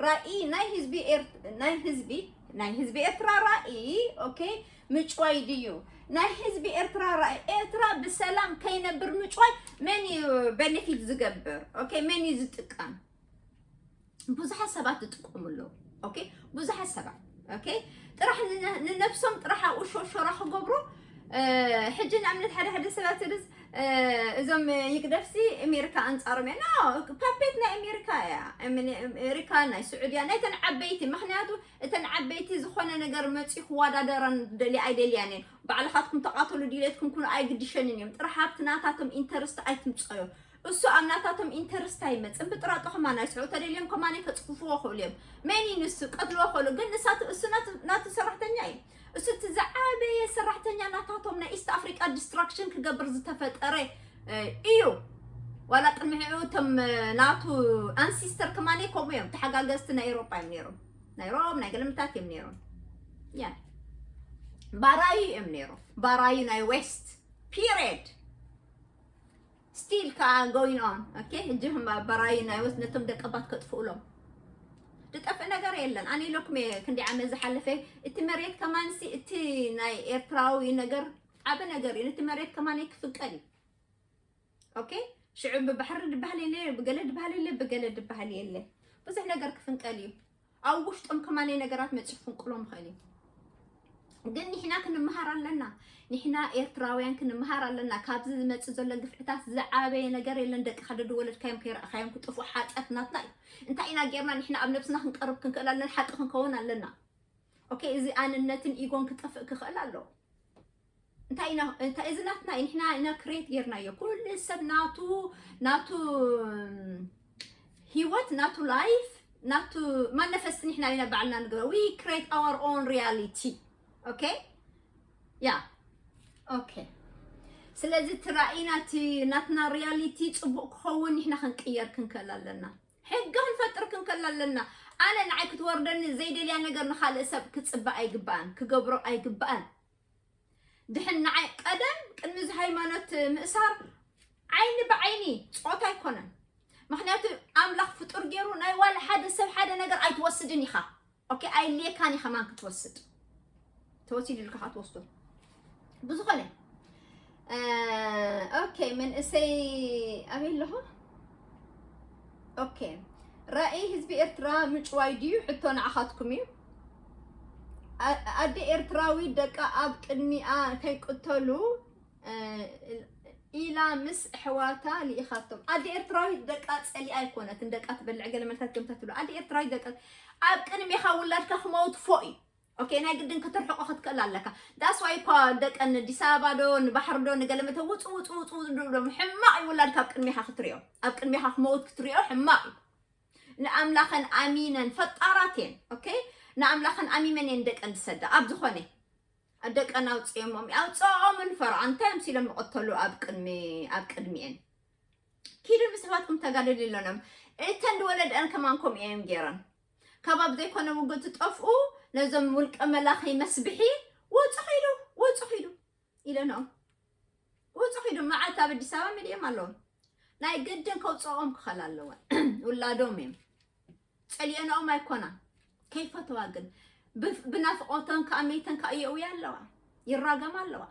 ራኢ ናይ ህዝቢ ናይ ህዝቢ ናይ ህዝቢ ኤርትራ ራኢ ኦኬ ምጭዋይ ድዩ ናይ ህዝቢ ኤርትራ ራኢ ኤርትራ ብሰላም ከይነብር ምጭዋይ መን እዩ በነፊት ዝገብር ኦኬ መን እዩ ዝጥቀም ብዙሓት ሰባት ዝጥቀሙ ኣለዉ ኦኬ ብዙሓት ሰባት ኦኬ ጥራሕ ንነብሶም ጥራሕ ኣብኡ ሾሾራ ክገብሩ ሕጂ ንኣብነት ሓደ ሓደ ሰባት ርስ እዞም ይግደፍሲ ኣሜሪካ ኣንፃሮም እያ ኖ ፓፔት ናይ ኣሜሪካ እያ ኣሜሪካ ናይ ስዑድያ ናይተን ዓበይቲ ምክንያቱ እተን ዓበይቲ ዝኾነ ነገር መፅኡ ክወዳደረን ደሊ ኣይደልያን እየን ባዕልኻትኩም ተቃተሉ ድሌትኩም ኩኑ ኣይግድሸንን እዮም ጥራሕ ሃብቲ ናታቶም ኢንተርስቲ ኣይትምፀዮ እሱ ኣብ ናታቶም ኢንተርስት ኣይመፅን ብጥራጦ ከማን ኣይስርዑ ተደልዮም ከማን ከፅፍፍዎ ክእሉ እዮም መን እዩ ንሱ ቀትልዎ ክእሉ ግን ንሳት እሱ ናቱ ሰራሕተኛ እዩ እሱ እቲ ዝዓበየ ሰራሕተኛ ናታቶም ናይ ኢስት ኣፍሪቃ ዲስትራክሽን ክገብር ዝተፈጠረ እ፣ እዩ ዋላ ቅድሚ ሕዑ እቶም እ፣ ናቱ ኣንሲስተር ከማን ከምኡ እዮም ተሓጋገዝቲ ናይ ኤሮጳ እዮም ነይሮም ናይ ሮም ናይ ገለምታት እዮም ነይሮም ያ ባራዩ እዮም ነይሮም ባራዩ ናይ ዌስት ፒሪድ Still ከኣ going on okay እጂ ህማ በራዩ ናይ ወስ ነቶም ደቀባት ከጥፍኡሎም ዝጠፍእ ነገር የለን ኣነ ኢለኩም እየ ክንዲ ዓመት ዝሓለፈ እቲ መሬት ከማንሲ እቲ ናይ ኤርትራዊ ነገር ዓበ ነገር እዩ ነቲ መሬት ከማን ክፍቀድ እዩ ኦኬ ሽዑ ብባሕሪ ድባህል የለ ብገለ ድባህል የለ ብገለ ድባህል የለ ብዙሕ ነገር ክፍንቀል እዩ ኣብ ውሽጦም ከማነይ ነገራት መጺኡ ክፍንቅሎም ይኽእል እዩ ግን ንሕና ክንምሃር ኣለና ንሕና ኤርትራውያን ክንምሃር ኣለና ካብዚ ዝመፅእ ዘሎ ግፍዕታት ዝዓበየ ነገር የለን ደቅኻ ደድወለድካዮም ከይረእኻዮም ክጥፍኡ ሓጢኣት ናትና እዩ እንታይ ኢና ጌርና ንሕና ኣብ ነብስና ክንቀርብ ክንክእል ኣለና ሓቂ ክንከውን ኣለና ኦኬ እዚ ኣንነትን ኢጎን ክጠፍእ ክኽእል ኣለዎ እንታይ ኢና እንታይ እዚ ናትና እዩ ንሕና ኢና ክሬት ጌርናዮ ኩሉ ሰብ ናቱ ናቱ ሂወት ናቱ ላይፍ ናቱ ማነፈስቲ ንሕና ኢና ባዕልና ንግበ ዊ ክሬት ኣወር ኦን ሪያሊቲ ኦኬ ያ ኦኬ ስለዚ እቲ ራእይና እቲ ናትና ሪያሊቲ ፅቡቅ ክኸውን ንሕና ክንቅየር ክንከል ኣለና ሕጊ ክንፈጥር ክንከል ኣለና ኣነ ንዓይ ክትወርደኒ ዘይደልያ ነገር ንካልእ ሰብ ክፅበ ኣይግባእን ክገብሮ ኣይግባእን ድሕን ንዓይ ቀደም ቅድሚ እዚ ሃይማኖት ምእሳር ዓይኒ ብዓይኒ ፆታ ኣይኮነን ምክንያቱ ኣምላኽ ፍጡር ገይሩ ናይ ዋላ ሓደ ሰብ ሓደ ነገር ኣይትወስድን ኢኻ ኦኬ ኣይልየካን ኢኻ ማን ክትወስድ ተወሲዱ ኢልካ ትወስዶ ብዝኾነ ኦኬ መንእሰይ ኣበይ ኣለኹ? ኦኬ ራእይ ህዝቢ ኤርትራ ምጭዋይ ድዩ ሕቶ ንዓኻትኩም እዩ ኣደ ኤርትራዊ ደቃ ኣብ ቅድሚኣ ከይቅተሉ ኢላ ምስ ኣሕዋታ ልኢኻቶም ኣደ ኤርትራዊ ደቃ ፀሊኣ ኣይኮነትን ደቃ ትበልዕ ገለ መልታት ከምታ ትብሉ ኣደ ኤርትራዊ ደቃ ኣብ ቅድሚኻ ውላድካ ክመውት ፎእ እዩ ኦኬ ናይ ግድን ክትርሕቆ ክትክእል ኣለካ ዳስ ዋይ እኳ ደቀን ኣዲስ ኣበባ ዶ ንባሕሪ ዶ ንገለ መተ ውፁ ውፁ ውፁ ውፁ ድብሎም ሕማቕ እዩ ውላድ ካብ ቅድሚኻ ክትሪኦ ኣብ ቅድሚኻ ክመውት ክትሪኦ ሕማቕ እዩ ንኣምላኸን ኣሚነን ፈጣራት እየን ኦኬ ንኣምላኸን ኣሚመን እየን ደቀን ዝሰዳ ኣብ ዝኾነ ደቀን ኣውፅኦሞም ኣውፅኦምን ፈርዖ እንታይ እዮም ሲሎም ዝቐተሉ ኣብ ቅድሚ ኣብ ቅድሚኤን ኪዱ ምስ ኣሕዋትኩም ተጋደሊ ኣለኖም እተን ዝወለደአን ከማን ከምኡ እዮም ገይረን ካብ ኣብ ዘይኮነ ውግእ ትጠፍኡ ነዞም ውልቀ መላኺ መስብሒ ወፁ ኪዱ ወፁ ኪዱ ኢለንኦም ወፁ ኪዱ መዓልቲ ኣብ ኣዲስ ኣበባ ሚድዮም ኣለዎም ናይ ግድን ከውፅኦም ክኸል ኣለወን ውላዶም እዮም ፀሊኦንኦም ኣይኮና ከይፈተዋ ግን ብናፍቆተን ከዓ መይተን ከዓ እየውያ ኣለዋ ይራገማ ኣለዋ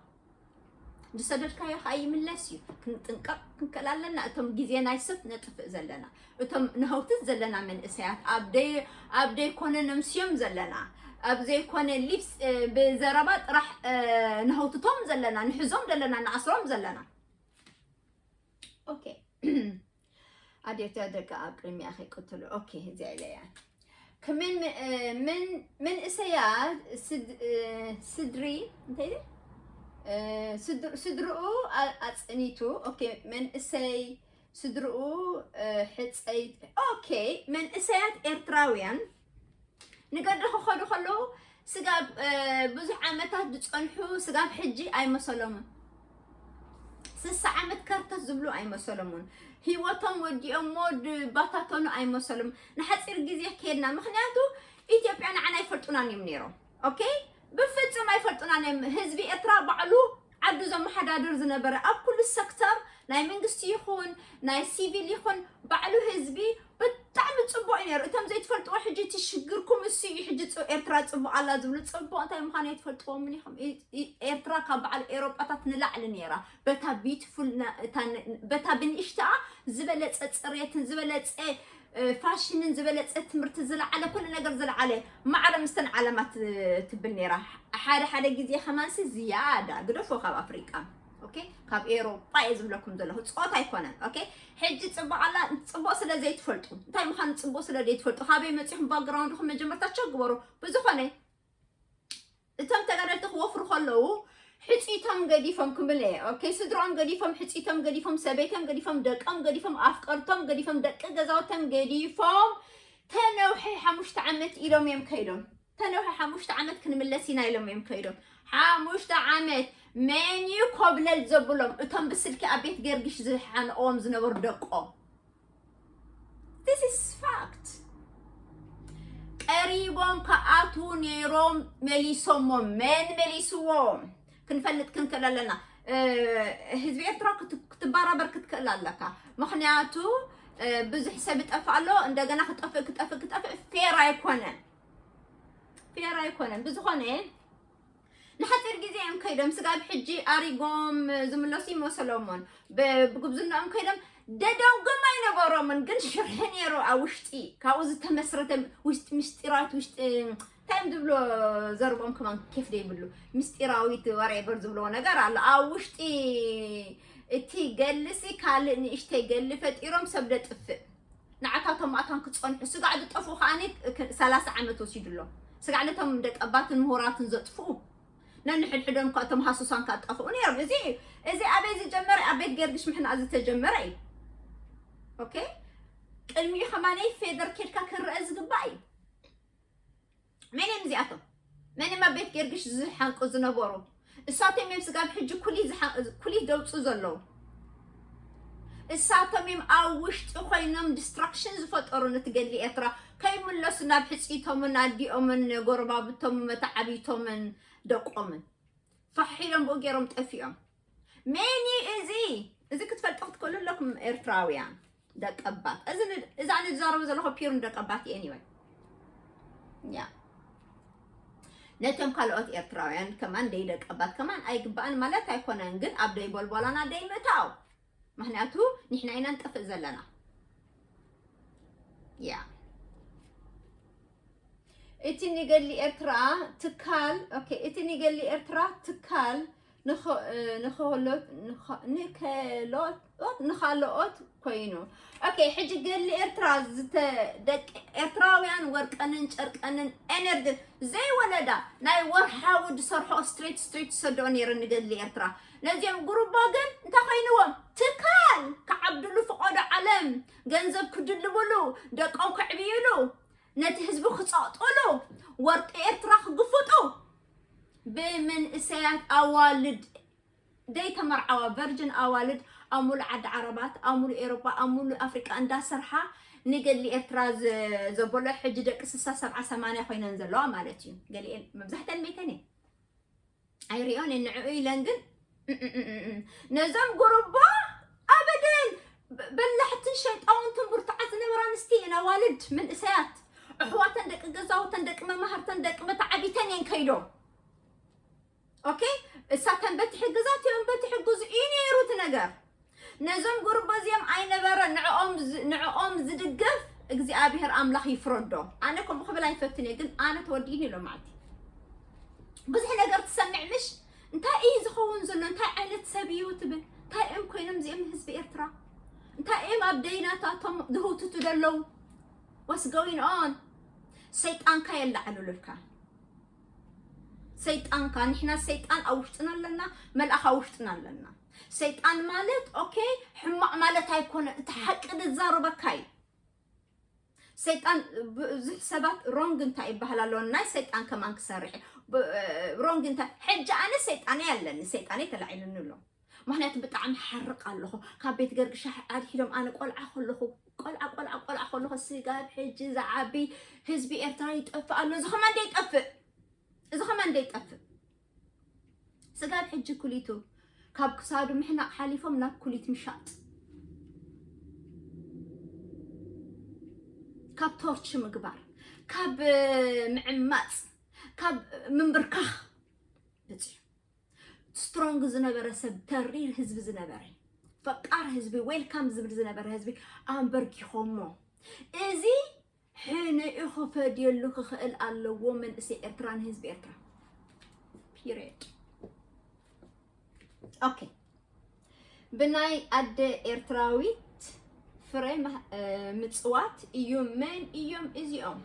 ዝሰደድካዮ ከዓ ይምለስ እዩ ክንጥንቀቕ ክንከል ኣለና እቶም ግዜ ናይ ሰብ ነጥፍእ ዘለና እቶም ንሃውትት ዘለና መንእሰያት ኣብ ደይኮነ ነምስዮም ዘለና ኣብ ዘይኮነ ሊፕስ ብዘረባ ጥራሕ ንሃውትቶም ዘለና ንሕዞም ዘለና ንኣስሮም ዘለና ኦኬ ኣዴተ ደቂ ኣብ ቅድሚኣ ከይቅትሉ ኦኬ እዚኣ ኢለ እያ ክምን መንእሰያት ስድሪ እንታይ ስድርኡ ኣፅኒቱ ኦኬ መንእሰይ ስድርኡ ሕፀይ ኦኬ መንእሰያት ኤርትራውያን ንገዶ ክኸዱ ከለዉ ስጋብ ብዙሕ ዓመታት ዝፀንሑ ስጋብ ሕጂ ኣይመሰሎምን ስሳ ዓመት ከርተት ዝብሉ ኣይመሰሎምን ህይወቶም ወዲኦሞ ድባታተኑ ኣይመሰሎም ንሓፂር ግዜ ከድና ምክንያቱ ኢትዮጵያ ንዓና ኣይፈልጡናን እዮም ነይሮም ኦኬ ብፍጹም ኣይፈልጡናን እዮም ህዝቢ ኤርትራ ባዕሉ ዓዱ ዘመሓዳድር ዝነበረ ኣብ ኩሉ ሰክተር ናይ መንግስቲ ይኹን ናይ ሲቪል ይኹን ባዕሉ ህዝቢ ብጣዕሚ ፅቡቅ እዩ ነይሩ እቶም ዘይትፈልጥዎ ሕጂ እቲ ሽግርኩም እሱ እዩ ሕጂ ፅ- ኤርትራ ፅቡቅ ኣላ ዝብሉ ፅቡቅ እንታይ ምዃኑ ኣይትፈልጥዎምን ኢኹም ኢ- ኢ- ኤርትራ ካብ በዓል ኤሮጳታት ንላዕሊ ነይራ በታ ቢዩቲፉል በታ ብንእሽትኣ ዝበለፀ ፅሬትን ዝበለፀ ፋሽንን ዝበለፀ ትምህርቲ ዝለዓለ ኩሉ ነገር ዝለዓለ ማዕረ ምስተን ዓለማት ትብል ነይራ ሓደ ሓደ ግዜ ከማንሲ ዝያዳ ግደፎ ካብ ኣፍሪቃ ኦኬ ካብ ኤሮጳ እየ ዝብለኩም ዘለኹ ፆታ ኣይኮነን ኦኬ ሕጂ ፅቡቅ ኣላ ፅቡቅ ስለ ዘይትፈልጡ እንታይ ምዃኑ ፅቡቅ ስለ ዘይትፈልጡ ካበይ መፂኹም ባክግራውንድኹም መጀመርታ ቸክ ግበሩ ብዝኾነ እቶም ተጋደልቲ ክወፍሩ ከለዉ ሕጺቶም ገዲፎም ክምለ እየ ኦኬ ስድሮኦም ገዲፎም ሕጺቶም ገዲፎም ሰበይቶም ገዲፎም ደቆም ገዲፎም ኣፍቀርቶም ገዲፎም ደቂ ገዛውቶም ገዲፎም ተነውሒ ሓሙሽተ ዓመት ኢሎም እዮም ከይዶም ተነውሒ ሓሙሽተ ዓመት ክንምለስ ኢና ኢሎም እዮም ከይዶም ሓሙሽተ ዓመት መን እዩ ኮብለል ዘብሎም እቶም ብስልኪ ኣብ ቤት ገርግሽ ዝሓንኦም ዝነበሩ ደቆም this is fact ቀሪቦም ከኣቱ ነይሮም መሊሶሞ መን መሊስዎም ክንፈልጥ ክንክእል ኣለና ህዝቢ ኤርትራ ክትባራበር ክትክእል ኣለካ ምክንያቱ ብዙሕ ሰብ ይጠፍእ ኣሎ እንደገና ክጠፍእ ክጠፍእ ክጠፍእ ፌር ኣይኮነን ፌር ኣይኮነን ብዝኾነ ንሓጺር ግዜ እዮም ከይዶም ስጋብ ሕጂ ኣሪጎም ዝምለሱ ይመሰሎሞን ብጉብዝናኦም ከይዶም ደደውጎም ኣይነበሮምን ግን ሽርሒ ነይሩ ኣብ ውሽጢ ካብኡ ዝተመስረተ ውሽጢ ምስጢራዊት ውሽጢ ታይም ዝብሎ ዘርቦም ከማን ኬፍ ዘይብሉ ምስጢራዊት ወሬበር ዝብለዎ ነገር ኣሎ ኣብ ውሽጢ እቲ ገልሲ ካልእ ንእሽተይ ገሊ ፈጢሮም ሰብ ደጥፍእ ንዓካ እቶም ኣታን ክጸንሑ ስጋዕ ዝጠፍኡ ከኣኒ ሰላሳ ዓመት ወሲዱ ኣሎ ስጋዕ ነቶም ደቂ ኣባትን ምሁራትን ዘጥፍኡ ነንሕድሕዶም እኳ እቶም ሃሱሳን ከ ኣጣፍኡ ነይሮም እዚ እዩ እዚ ኣበይ ዝጀመረ ኣብ ቤት ገርግሽ ምሕና ዝተጀመረ እዩ ኦኬ ቅድሚኡ ከማነይ ፌደር ኬድካ ክረአ ዝግባእ እዩ መን እዮም እዚኣቶም? መን እዮም ኣብ ቤት ጌርግሽ ዝሓንቁ ዝነበሩ? እሳቶም እዮም ስጋብ ሕጂ ኩሊት ደውፁ ዘለዉ። እሳቶም እዮም ኣብ ውሽጢ ኮይኖም ዲስትራክሽን ዝፈጠሩ ነቲ ገድሊ ኤርትራ ከይምለሱ ናብ ሕፅይቶምን ኣዲኦምን ጎረባብቶምን መታዓቢቶምን ደቆምን ፋሕ ኢሎም ብኡ ገይሮም ጠፊኦም ሜንዩ እዚ እዚ ክትፈልጦ ክትክእሉ ኣለኩም ኤርትራውያን ደቀባት እዚ እዛ ንዛረቡ ዘለኹ ፒር ንደቀባት እየን ይወይ ያ ነቶም ካልኦት ኤርትራውያን ከማን ደይደቀባት ከማን ኣይግባእን ማለት ኣይኮነን ግን ኣብ ደይ ቦልቦላና ደይ ምእታው ምክንያቱ ንሕና ኢና ንጠፍእ ዘለና ያ እቲ ንገሊ ኤርትራ ትካል ኦኬ እቲ ንገሊ ኤርትራ ትካል ንኸሎት ንኻልኦት ኮይኑ ኦኬ ሕጂ ገሊ ኤርትራ ደቂ ኤርትራውያን ወርቀንን ጨርቀንን ኤነርጂ ዘይወለዳ ናይ ወርሓዊ ዝሰርሖ ስትሬት ስትሬት ዝሰደኦ ነይረ ንገሊ ኤርትራ ነዚኦም ጉሩቦ ግን እንታይ ኮይንዎም ትካል ክዓብድሉ ፍቐዶ ዓለም ገንዘብ ክድልብሉ ደቆም ከዕብይሉ ነቲ ህዝቢ ክጸቕጥሉ ወርቂ ኤርትራ ክግፍጡ ብምንእሰያት ኣዋልድ ዘይተመርዓዋ ቨርጅን ኣዋልድ ኣብ ሙሉእ ዓዲ ዓረባት ኣብ ሙሉእ ኤሮጳ ኣብ ሙሉእ ኣፍሪቃ እንዳሰርሓ ንገድሊ ኤርትራ ዘበሎ ሕጂ ደቂ ስሳ ሰብዓ ሰማንያ ኮይነን ዘለዋ ማለት እዩ ገሊኤን መብዛሕተን ሜተን እየን ኣይሪኦን እየ ንዕኡ ኢለን ግን እምእምእምእም ነዞም ጉርቦ ኣበደን በ- በላሕትን ሸይጣውንትን ብርቱዓት ዝነበራ ኣንስቲ እየን ኣዋልድ መንእሰያት ኣሕዋተን ደቂ ገዛውተን ደቂ መማህርተን ደቂ መተዓቢተን እየን ከይዶም ኦኬ እሳተን በቲ ሕግዛት እዮም በቲ ሕግዙ እዩ ነይሩ እቲ ነገር ነዞም ጉርቦ እዚኦም ኣይነበረን ንዕኦም ዝ- ንዕኦም ዝድገፍ እግዚኣብሔር ኣምላኽ ይፍረዶ ኣነ ከምኡ ክብል ኣይፈትን እየ ግን ኣነ ተወዲእኒ ኢሎም ማዓልቲ ብዙሕ ነገር ትሰምዕ ምሽ እንታይ እዩ ዝኸውን ዘሎ እንታይ ዓይነት ሰብ እዩ ትብል እንታይ እዮም ኮይኖም እዚኦም ህዝቢ ኤርትራ እንታይ እዮም ኣብ ደይናታቶም ዝህውትቱ ዘለዉ ዋስ ጎይን ኦን ሰይጣንካ የላዕሉልካ ሰይጣንካ ንሕና ሰይጣን ኣብ ውሽጥና ኣለና መልኣኽ ኣብ ውሽጥና ኣለና ሰይጣን ማለት ኦኬ ሕማቅ ማለት ኣይኮነ እቲ ሓቂ ዝዛረበካ እዩ ሰይጣን ብዙሕ ሰባት ሮንግ እንታይ ይበሃል ኣሎ ናይ ሰይጣን ከማን ክሰርሕ ሮንግ እንታይ ሕጂ ኣነ ሰይጣነይ ኣለኒ ሰይጣነይ ተላዒሉኒ ኣሎ ምክንያቱ ብጣዕሚ ሓርቕ ኣለኹ ካብ ቤት ገርግሻ ኣድሒዶም ኣነ ቆልዓ ከለኹ ቆልዓ ቆልዓ ቆልዓ ከለኹ ስጋብ ሕጂ ዝዓቢ ህዝቢ ኤርትራ ይጠፍእ ኣሎ እዚ ከማን ደይጠፍእ እዚ ከማን ደይጠፍእ ስጋብ ሕጂ ኩሊቱ ካብ ክሳዱ ምሕናቕ ሓሊፎም ናብ ኩሊት ምሻጥ ካብ ቶርች ምግባር ካብ ምዕማፅ ካብ ምንብርካኽ ብፅሑ ስትሮንግ ዝነበረ ሰብ ተሪር ህዝቢ ዝነበረ ፈቃር ህዝቢ ዌልካም ዝብል ዝነበረ ህዝቢ ኣንበርኪኾሞ እዚ ሕነኡ ክፈድየሉ ክኽእል ኣለዎ መንእሰይ ኤርትራ ንህዝቢ ኤርትራ ፒሬድ ኦኬ ብናይ ኣደ ኤርትራዊት ፍረ ምፅዋት እዩ። መን እዮም እዚኦም?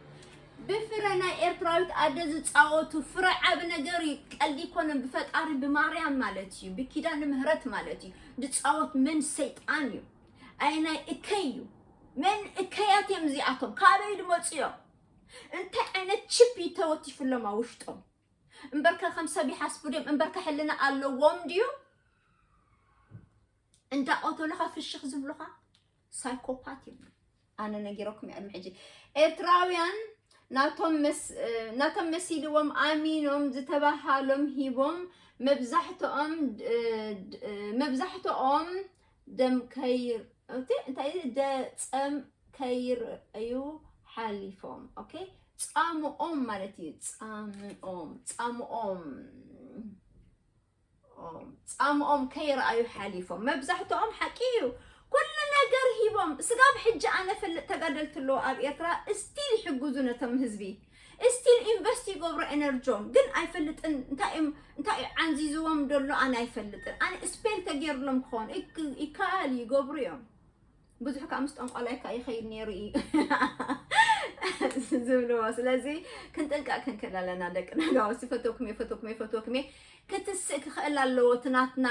ብፍረ ናይ ኤርትራዊት ኣደ ዝፃወቱ ፍረ ዓብ ነገር እዩ። ቀልዲ ይኮነን። ብፈጣሪ ብማርያም ማለት እዩ፣ ብኪዳነ ምህረት ማለት እዩ ዝፃወት መን ሰይጣን እዩ። ኣይ ናይ እከይ እዩ መን እከያት እዮም እዚኣቶም ካበይ ድመፁ እዮም እንታይ ዓይነት ቺፕ እዩ ተወቲፍሎም ኣብ ውሽጦም እምበርከ ከም ሰብ ይሓስቡ ድዮም እምበርከ ሕልና ኣለዎም ድዩ እንዳቆተሉኻ ፍሽኽ ዝብሉኻ ሳይኮፓት እዮም ኣነ ነጊረኩም እየ ቅድሚ ሕጂ ኤርትራውያን ናቶም መሲልዎም ኣሚኖም ዝተባሃሎም ሂቦም መብዛሕትኦም መብዛሕትኦም ደም ከይር እንታይ ደፀም ከይርአዩ ሓሊፎም ኦኬ ፃምኦም ማለት እዩ ፃምኦም ፃምኦም ጻምኦም ከይረኣዩ ሓሊፎም መብዛሕትኦም ሓቂ ኢዩ ኩሉ ነገር ሂቦም ስጋብ ሕጂ ኣነ ፈልጥ ተጋደልቲ ኣለዉ ኣብ ኤርትራ እስቲል ይሕግዙ ነቶም ህዝቢ እስቲል ኢንቨስት ይገብሩ ኤነርጆም ግን ኣይፈልጥን እንታይ ኢዮም እንታይ ኢዩ ዓንዚዝዎም ደሎ ኣነ ኣይፈልጥን ኣነ እስፔል ተጌርሎም ክኾን ይከኣል ይገብሩ ኢዮም ብዙሕ ከዓ ምስ ጠንቋላይካ ይኸይድ ነይሩ እዩ ዝብልዎ ስለዚ ክንጥንቀቅ ክንክእል ኣለና ደቂ ናጋወሲ ፈተኩም እየ ፈተኩም እየ ፈተኩም እየ ክትስእ ክኽእል ኣለዎ እቲ ናትና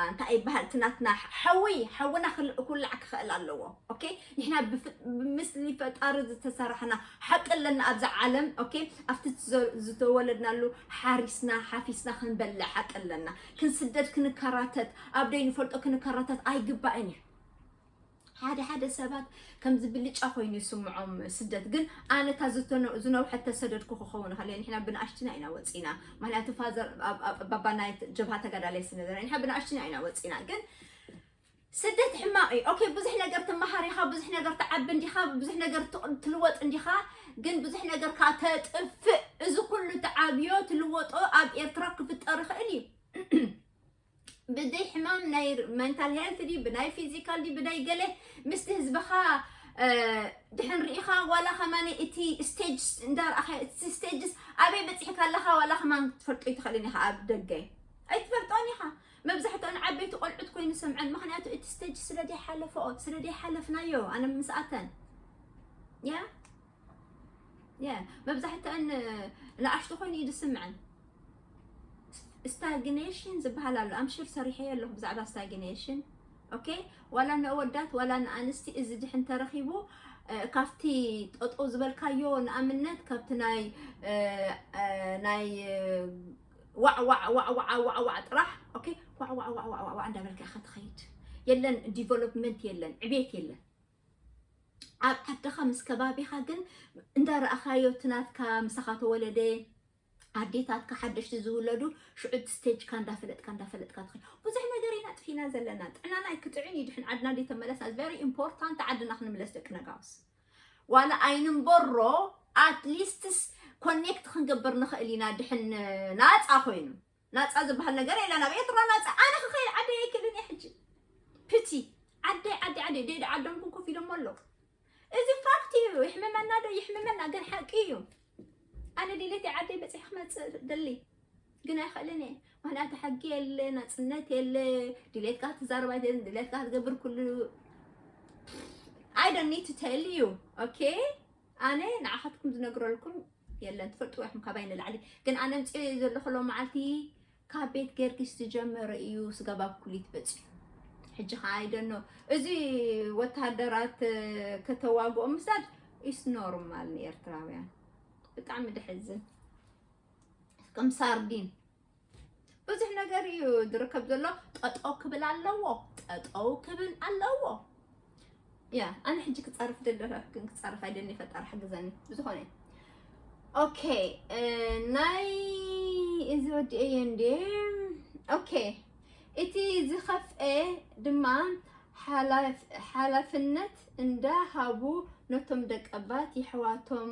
እንታይ ይበሃል እቲ ናትና ሓዊ ሓውና ክል- ኩላዕ ክኽእል ኣለዎ ኦኬ ንሕና ብፍ- ብምስሊ ፈጣሪ ዝተሰራሕና ሓቂ ኣለና ኣብዚ ዓለም ኦኬ ኣብቲ ዝዘ- ዝተወለድናሉ ሓሪስና ሓፊስና ክንበልዕ ሓቂ ኣለና ክንስደድ ክንከራተት ኣብ ደይ ንፈልጦ ክንከራተት ኣይግባእን እዩ ሓደ ሓደ ሰባት ከምዚ ብልጫ ኮይኑ ይስምዖም ስደት ግን ኣነ እታ ዝነውሐ ተሰደድኩ ክኸውን ከለ ንሕና ብንኣሽትና ኢና ወፂና ምክንያቱ ፋዘር ባባ ናይ ጀብሃ ተጋዳላይ ስነበረ ንሕና ብንኣሽትና ኢና ወፂና ግን ስደት ሕማቅ እዩ ኦኬ ብዙሕ ነገር ትመሃር ኢኻ ብዙሕ ነገር ትዓቢ እንዲኻ ብዙሕ ነገር ትቅ- ትልወጥ እንዲኻ ግን ብዙሕ ነገር ከዓ ተጥፍእ እዚ ኩሉ ትዓብዮ ትልወጦ ኣብ ኤርትራ ክፍጠር ይኽእል እዩ ብደይ ሕማም ናይ መንታል ሄልት ድዩ ብናይ ፊዚካል ድዩ ብደይ ገለ ምስቲ ህዝብኻ ድሕን ርኢኻ ዋላ ከማን እቲ ስቴጅ እንዳርኣኸ እቲ ስቴጅስ ኣበይ በፂሕካ ኣለኻ ዋላ ከማን ክትፈልጦ ይትኽእልን ኢኻ ኣብ ደገ ኣይትፈልጦን ኢኻ መብዛሕትኦን ዓበይቲ ቆልዑት ኮይኑ ሰምዐን ምክንያቱ እቲ ስቴጅ ስለ ዘይሓለፈኦ ስለ ዘይሓለፍናዮ ኣነ ምስኣተን ያ መብዛሕትኣን ንኣሽቱ ኮይኑ እዩ ዝስምዐን። ስታግኔሽን ዝበሃል ኣሎ ኣምሽር ሰሪሐዮ ኣለኹ ብዛዕባ ስታግኔሽን ኦኬ። ዋላ ንኣወዳት ዋላ ንኣንስቲ እዚ ድሕን ተረኺቡ ካብቲ ጠጠው ዝበልካዮ ንኣብነት ካብቲ ናይ ናይ ዋዕዋዕዋዕዋዕዋዕዋዕ ጥራሕ ኦኬ ዋዕዋዕዋዕዋዕዋዕ እንዳበልካ ኢኻ ትኸይድ የለን ዲቨሎፕመንት የለን ዕቤት የለን ኣብ ዓድኻ ምስ ከባቢኻ ግን እንዳረኣኻዮ እቲ ናትካ ምሳኻ ተወለደ ኣዴታትካ ሓደሽቲ ዝውለዱ ሽዑ ስቴጅካ እንዳፈለጥካ እንዳፈለጥካ ትኸ ብዙሕ ነገር ኢና ጥፊና ዘለና ጥዕናና ኣይክጥዕን እዩ ድሕን ዓድና እንዲ ተመለስና ቨሪ ኢምፖርታንት ዓድና ክንምለስ ደቂ ነጋውስ ዋላ ኣይንንበሮ ኣትሊስትስ ኮኔክት ክንገብር ንኽእል ኢና ድሕን ናፃ ኮይኑ ናጻ ዝባሃል ነገር የለን ኣብ ኤርትራ ናጻ ኣነ ክኸይድ ዓደይ ኣይክእልን እየ ሕጂ ፕቲ ዓደይ ዓደይ ዓደይ ደይ ዓዶም ኩን ኮፍ ኢሎሞ ኣለዉ እዚ ፋክት እዩ ይሕምመና ዶ ይሕምመና ግን ሓቂ እዩ ኣነ ድሌት ዓደይ በፂሕ ክመፅእ ደሊ ግን ኣይክእልን እየ ምክንያቱ ሕጊ የለ ናፅነት የለ ድሌትካ ክትዛረብ ኣይደልን ድሌትካ ክትገብር ኩሉ ኣይ ዶንት ኒድ ቱ ቴል ዩ ኦኬ ኣነ ንዓኻትኩም ዝነግረልኩም የለን ትፈልጥዎ ኢኹም ካባይ ንላዕሊ ግን ኣነ ኣምፅኦ ዘለኹ ሎ መዓልቲ ካብ ቤት ገርጊስ ዝጀመረ እዩ ስጋብ ኣብ ኩሊት በፂሑ ሕጂ ከዓ ኣይደኖ እዚ ወተሃደራት ከተዋግኦ ምስዳድ ኢስ ኖርማል ንኤርትራውያን ብጣዕሚ ደሕዝን ከም ሳርዲን ብዙሕ ነገር እዩ ዝርከብ ዘሎ ጠጠው ክብል ኣለዎ ጠጠው ክብል ኣለዎ ያ ኣነ ሕጂ ክፀርፍ ደለረ ግን ክፀርፍ ኣይደኒ ፈጣሪ ሓግዘኒ ብዝኾነ ኦኬ ናይ እዚ ወዲ እየ እንዴ ኦኬ እቲ ዝኸፍአ ድማ ሓላፍነት እንዳሃቡ ነቶም ደቀባት የሕዋቶም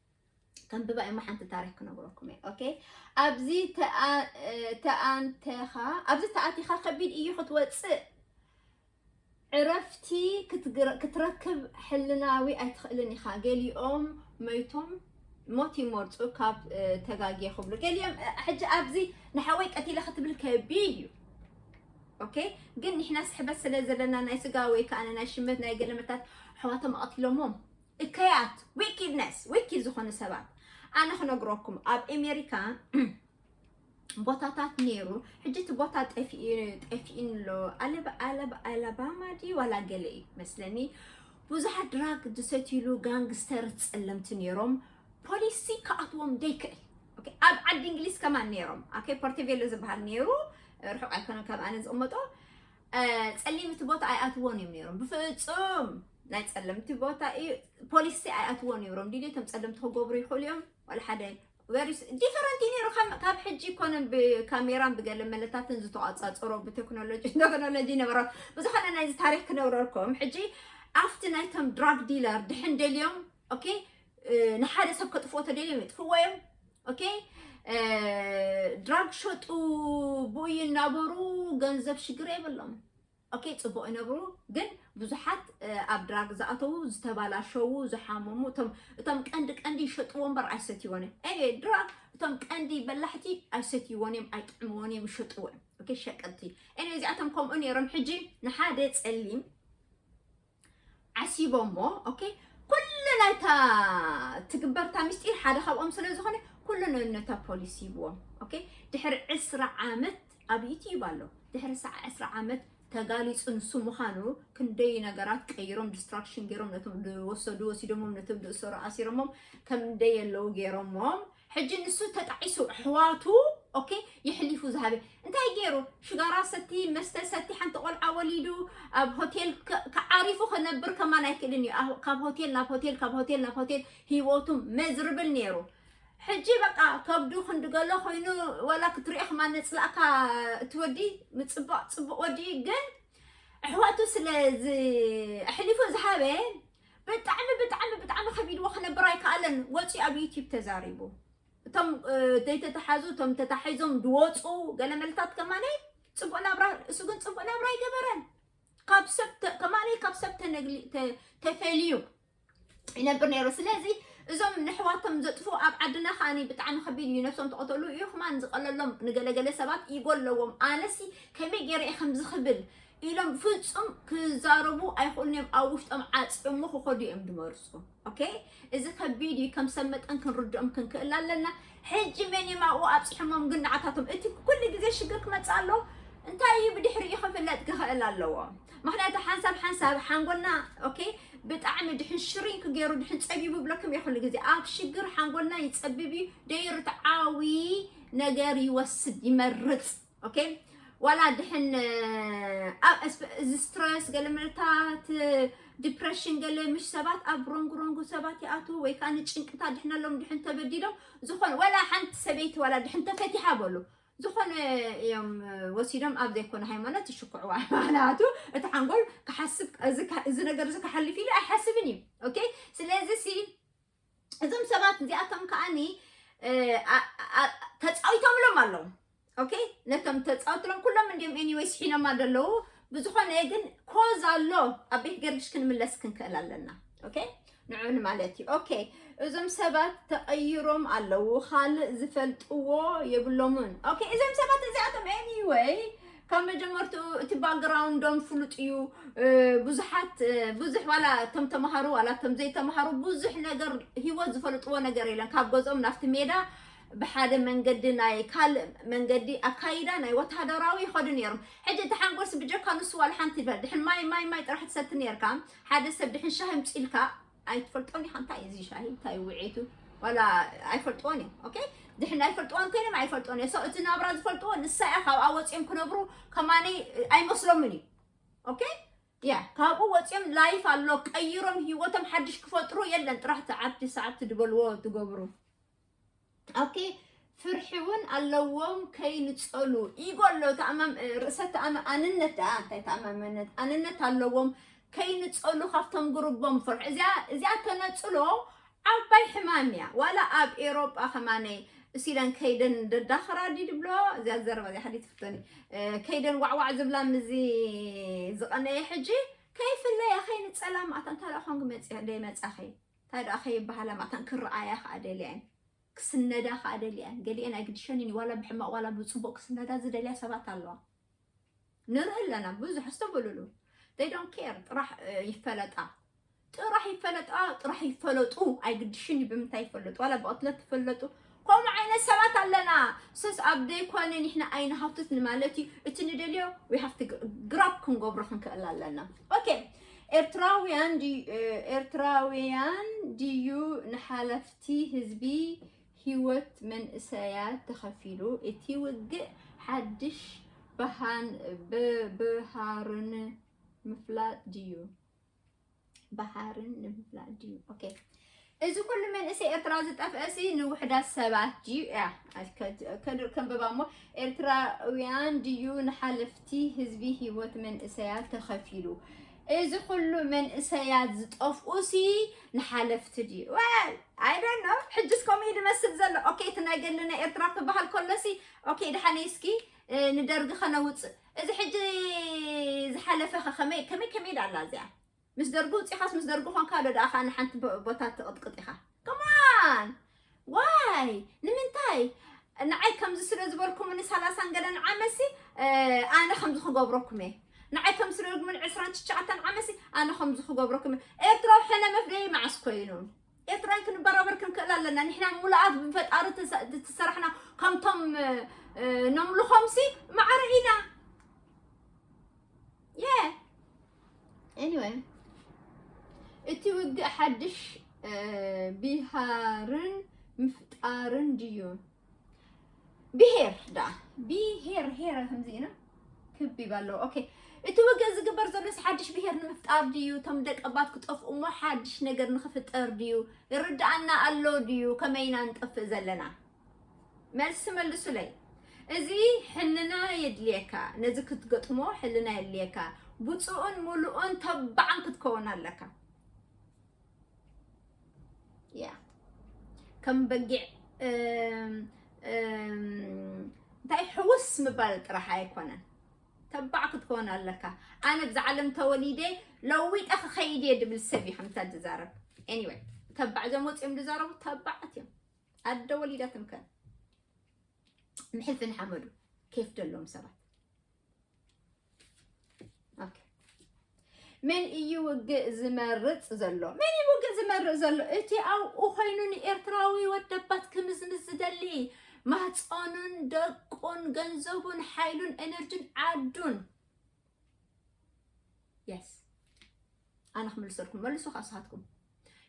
ከንብባ እሞ ሓንቲ ታሪክ ክነግረኩም እየ ኦኬ ኣብዚ ተኣንተኻ ኣብዚ ተኣቲኻ ከቢድ እዩ ክትወፅእ ዕረፍቲ ክትረክብ ሕልናዊ ኣይትኽእልን ኢኻ ገሊኦም መይቶም ሞት ይመርፁ ካብ ተጋጊየ ክብሉ ገሊኦም ሕጂ ኣብዚ ንሓወይ ቀቲለ ክትብል ከቢድ እዩ ኦኬ ግን ንሕና ስሕበት ስለ ዘለና ናይ ስጋ ወይ ከዓ ናይ ሽመት ናይ ገለመታት ኣሕዋቶም ኣቐቲሎሞም እከያት ዊኪድነስ ዊኪድ ዝኾኑ ሰባት ኣነ ክነግረኩም ኣብ ኣሜሪካ ቦታታት ነይሩ ሕጂ እቲ ቦታ ጠፊኢን ኣሎ ኣለባማ ድዩ ዋላ ገለ እዩ መስለኒ ብዙሓት ድራግ ዝሰትይሉ ጋንግስተር ፀለምቲ ነይሮም ፖሊሲ ክኣትዎም ዘይክእል ኣብ ዓዲ እንግሊዝ ከማን ነይሮም ኣከ ፖርቴቬሎ ዝበሃል ነይሩ ርሑቅ ኣይኮነን ካብ ኣነ ዝቕመጦ ጸሊምቲ ቦታ ኣይኣትዎን እዮም ነይሮም ብፍጹም ናይ ጸለምቲ ቦታ እዩ ፖሊሲ ኣይኣትዎ ነይሮም ድሌቶም ጸለምቲ ክገብሩ ይኽእሉ እዮም ዋላ ሓደ ወሪስ ዲፈረንት እዩ ነይሩ ካብ ሕጂ ኮነን ብካሜራን ብገለ መለታትን ዝተቋፃፀሮ ብቴክኖሎጂ ቴክኖሎጂ ነበረ ብዝኾነ ናይዚ ታሪክ ክነብረልኩም ሕጂ ኣብቲ ናይቶም ድራግ ዲለር ድሕን ደልዮም ኦኬ ንሓደ ሰብ ከጥፍኦ ተደልዮም የጥፍዎ እዮም ኦኬ ድራግ ሸጡ ብኡ ይናበሩ ገንዘብ ሽግር የብሎም ኦኬ ፅቡቅ ይነብሩ ግን ብዙሓት ኣብ ድራግ ዝኣተዉ ዝተባላሸዉ ዝሓመሙ እቶም ቀንዲ ቀንዲ ይሸጥዎ እምበር ኣይሰትይዎን እዮም ኒ ድራግ እቶም ቀንዲ በላሕቲ ኣይሰትይዎን እዮም ኣይጥዕምዎን እዮም ይሸጥዎ እዮም ሸቀጥቲ ኒ እዚኣቶም ከምኡ ነይሮም ሕጂ ንሓደ ፀሊም ዓሲቦሞ ኦኬ ኩሉ ናይታ ትግበርታ ምስጢር ሓደ ካብኦም ስለ ዝኾነ ኩሉ ነታ ፖሊስ ሂብዎም ኦኬ ድሕሪ ዕስራ ዓመት ኣብ ዩትዩብ ኣሎ ድሕሪ ሰዓ ዕስራ ዓመት ተጋሊፁ ንሱ ምዃኑ ክንደይ ነገራት ቀይሮም ዲስትራክሽን ገይሮም ነቶም ዝወሰዱ ወሲዶሞም ነቶም ዝእሰሩ ኣሲሮሞም ከምደይ የለው ገይሮሞም ሕጂ ንሱ ተጣዒሱ ኣሕዋቱ ኦኬ የሕሊፉ ዝሃበ እንታይ ገይሩ ሽጋራ ሰቲ መስተ ሰቲ ሓንቲ ቆልዓ ወሊዱ ኣብ ሆቴል ከ- ከዓሪፉ ክነብር ከማን ኣይክእልን እዩ ኣብ- ካብ ሆቴል ናብ ሆቴል ካብ ሆቴል ናብ ሆቴል ሂወቱ መዝርብል ነይሩ ሕጂ በቃ ከብዱ ክንድገሎ ኮይኑ ወላ ክትሪኦ ከማ ነፅላእካ እቲ ወዲ ምፅባቕ ፅቡቕ ወዲ እዩ ግን ኣሕዋቱ ስለ ዝ- ኣሕሊፉ ዝሃበ ብጣዕሚ ብጣዕሚ ብጣዕሚ ከቢድዎ ክነብር ኣይከኣለን ወፂኡ ኣብ ዩቲብ ተዛሪቡ እቶም ዘይተተሓዙ እቶም ተታሒዞም ድወፁ ገለ መልታት ከማነይ ፅቡቅ ናብራ እሱ ግን ፅቡቅ ናብራ ኣይገበረን ካብ ሰብ ከማነይ ካብ ሰብ ተፈልዩ ይነብር ነይሩ ስለዚ እዞም ንሕዋቶም ዘጥፉ ኣብ ዓድና ከዓ ብጣዕሚ ከቢድ እዩ ነብሶም ተቐተሉ እዩ ክማን ዝቐለሎም ንገለገለ ሰባት ይጎለዎም ኣለዎም ኣነሲ ከመይ ገይረ ከምዚ ክብል ኢሎም ፍጹም ክዛረቡ ኣይኽእሉን እዮም ኣብ ውሽጦም ዓጽዮሞ ክኸዱ እዮም ዝመርጹ ኦኬ እዚ ከቢድ እዩ ከም ሰብ መጠን ክንርድኦም ክንክእል ኣለና ሕጂ መን እዮም ኣብኡ ኣብፂሖሞም ግን ንዓታቶም እቲ ኩሉ ግዜ ሽግር ክመፅእ ኣለዎ እንታይ እዩ ብድሕሪኡ ክፍለጥ ክኽእል ኣለዎ ምክንያቱ ሓንሳብ ሓንሳብ ሓንጎልና ኦኬ ብጣዕሚ ድሕን ሽሪን ክገይሩ ድሕን ፀቢቡ ብለኩም እዩ ኩሉ ግዜ ኣብ ሽግር ሓንጎልና ይፀብብ እዩ ደይርትዓዊ ነገር ይወስድ ይመርፅ ኦኬ ዋላ ድሕን እዚ ስትረስ ገለ ምርታት ዲፕሬሽን ገለ ምሽ ሰባት ኣብ ሮንግ ሮንግ ሰባት ይኣትዉ ወይ ከዓ ንጭንቅታ ድሕነሎም ድሕን ተበዲሎም ዝኾነ ዋላ ሓንቲ ሰበይቲ ዋላ ድሕን ተፈቲሓ በሉ ዝኾነ እዮም ወሲዶም ኣብ ዘይኮነ ሃይማኖት ይሽኩዕዋ ማለቱ እቲ ሓንጎል ክሓስብ እዚ ነገር እዚ ክሓልፍ ኢሉ ኣይሓስብን እዩ ኦኬ ስለዚ ሲ እዞም ሰባት እዚኣቶም ከዓኒ ተፃዊቶምሎም ኣለዉ ኦኬ ነቶም ተፃውትሎም ኩሎም እንዲም ኤኒወይ ስሒኖማ ዘለዉ ብዝኾነ ግን ኮዝ ኣሎ ኣብ ቤት ገርግሽ ክንምለስ ክንክእል ኣለና ኦኬ ንዑን ማለት እዩ ኦኬ እዞም ሰባት ተቐይሮም ኣለዉ ካልእ ዝፈልጥዎ የብሎምን ኦኬ እዞም ሰባት እዚኣቶም ኤኒወይ ካብ መጀመርትኡ እቲ ባክግራውንዶም ፍሉጥ እዩ ብዙሓት ብዙሕ ዋላ እቶም ተምሃሩ ዋላ እቶም ዘይተምሃሩ ብዙሕ ነገር ሂወት ዝፈልጥዎ ነገር የለን ካብ ገዝኦም ናብቲ ሜዳ ብሓደ መንገዲ ናይ ካልእ መንገዲ ኣካይዳ ናይ ወተሃደራዊ ይኸዱ ነይሮም ሕጂ እቲ ሓንጎልሲ ብጀካ ንሱ ዋላ ሓንቲ ይበል ድሕን ማይ ማይ ማይ ጥራሕ ትሰቲ ነርካ ሓደ ሰብ ድሕን ሻሂ ምፅኢልካ ኣይትፈልጦን ኢኻ እንታይ እዩ እዚ ሻሂ እንታይ እዩ ውዕኢቱ ዋላ ኣይፈልጥዎን እዮም ኦኬ ድሕን ኣይፈልጥዎን ኮይኖም ኣይፈልጥዎን እዮም ሰው እቲ ናብራ ዝፈልጥዎ ንሳ እያ ካብኣ ወፂኦም ክነብሩ ከማነይ ኣይመስሎምን እዩ ኦኬ ያ ካብኡ ወፂኦም ላይፍ ኣሎ ቀይሮም ሂወቶም ሓድሽ ክፈጥሩ የለን ጥራሕ ትዓብቲ ሰዓብቲ ድበልዎ ትገብሩ ኦኬ ፍርሒ እውን ኣለዎም ከይንፀሉ ኢጎ ኣሎ ርእሰ ኣንነት ዳ እንታይ ተኣማመነት ኣንነት ኣለዎም ከይንፀሉ ካብቶም ጉርቦም ፍርሒ እዚኣ እዚኣ ተነፅሎ ዓባይ ሕማም እያ ዋላ ኣብ ኤሮጳ ከማነይ እሲለን ከይደን ደዳኽራ ድዩ ድብሎ እዚኣ ዘረባ እዚኣ ሓዲ ትፍተኒ ከይደን ዋዕዋዕ ዝብላ ምዚ ዝቐነየ ሕጂ ከይፍለያ ከይንፀላ ማእታ እንታ ደኣ ኮንክ መፅያ ደይ መፃኺ ታይ ደኣ ከይበሃላ መታን ክረኣያ ከኣ ደልያ እየን ክስነዳ ከኣ ደልያ እየን ገሊኤን ኣይግድሸንን እዩ ዋላ ብሕማቅ ዋላ ብጽቡቅ ክስነዳ ዝደልያ ሰባት ኣለዋ ንርኢ ኣለና ብዙሕ ኣስተውዕልሉ they don't care ጥራሕ ይፈለጣ ጥራሕ ይፈለጣ ጥራሕ ይፈለጡ ኣይግድሽን እዩ ብምንታይ ይፈለጡ ዋላ ብቅትለት ትፈለጡ ከምኡ ዓይነት ሰባት ኣለና ሰስ ኣብ ዘይኮነ ንሕና ኣይንሃውትት ንማለት እዩ እቲ ንደልዮ we have to grab ክንገብሮ ክንክእል ኣለና ኦኬ ኤርትራውያን ድዩ ኤርትራውያን ድዩ ንሓለፍቲ ህዝቢ ህይወት መንእሰያት ተኸፊሉ እቲ ውግእ ሓድሽ ብሃን ብሃርን ምፍላጥ ድዩ ባሕርን ንምፍላጥ ድዩ ኦኬ እዚ ኩሉ መንእሰይ ኤርትራ ዝጠፍአሲ ንውሕዳት ሰባት ድዩ እያ ከድር ከንብባ እሞ ኤርትራውያን ድዩ ንሓለፍቲ ህዝቢ ህይወት መንእሰያት ተኸፊሉ እዚ ኩሉ መንእሰያት ዝጠፍኡሲ ንሓለፍቲ ድዩ ወል ኣይደን ነው ሕጅስ ከምኡ ድመስል ዘሎ ኦኬ እቲ ናይ ገለና ኤርትራ ክበሃል ከሎሲ ኦኬ ድሓነይ እስኪ ንደርጊ ከነውፅእ እዚ ሕጂ ዝሓለፈ ከ ከመይ ከመይ ከመይ ዳላ እዚኣ ምስ ደርጉ ውፂኻስ ምስ ደርጉ ኾንካ ዶ ደኣ ንሓንቲ ቦታ ትቕጥቅጥ ኢኻ ከማን ዋይ ንምንታይ ንዓይ ከምዚ ስለ ዝበልኩምኒ ሰላሳን ገለን ዓመሲ ኣነ ከምዚ ክገብረኩም እየ ንዓይ ከም ስለ ግን ዕስራን ትሽዓተን ዓመሲ ኣነ ከምዚ ክገብረኩም ኤርትራዊ ሕነ መፍደይ መዓስ ኮይኑ ኤርትራውያን ክንበራበር ክንክእል ኣለና ንሕና ሙሉኣት ብፈጣሪ ተሰራሕና ከምቶም ነምልኾምሲ ማዕረ ኢና የ ኤኒወይ እቲ ውግእ ሓድሽ ቢሃርን ምፍጣርን ድዩ ብሄር ደኣ ብሄር ሄረ ከምዚ ኢና ክብ ይበሎ ኦኬ እቲ ውግእ ዝግበር ዘሎስ ሓድሽ ብሄር ንምፍጣር ድዩ እቶም ደቀባት ክጠፍኡ እሞ ሓድሽ ነገር ንክፍጠር ድዩ ይርድኣና ኣሎ ድዩ ከመይ ኢና ንጠፍእ ዘለና መልሲ መልሱለይ እዚ ሕልና የድልየካ ነዚ ክትገጥሞ ሕልና የድልየካ ብፁእን ሙሉእን ተባዕን ክትከውን ኣለካ ያ ከም በጊዕ እንታይ ሕውስ ምባል ጥራሕ ኣይኮነን ተባዕ ክትከውን ኣለካ ኣነ ብዛ ዓለም ተወሊደ ለዊጠ ክኸይድ እየ ድብል ሰብ እዩ ከምታ ዝዛረብ ኤኒወይ ተባዕ እዞም ወፂኦም ዝዛረቡ ተባዓት እዮም ኣደ ወሊዳትም ከ ንሕልፊ ንሓመዱ ኬፍ ደሎም ሰባት መን እዩ ውግእ ዝመርፅ ዘሎ? መን እዩ ውግእ ዝመርፅ ዘሎ? እቲ ኣብኡ ኮይኑ ንኤርትራዊ ወደባት ክምዝምዝ ዝደሊ ማህፀኑን ደቁን ገንዘቡን ሓይሉን ኤነርጂን ዓዱን የስ ኣነ ክምልሰልኩም መልሱ ከዓ ንስኻትኩም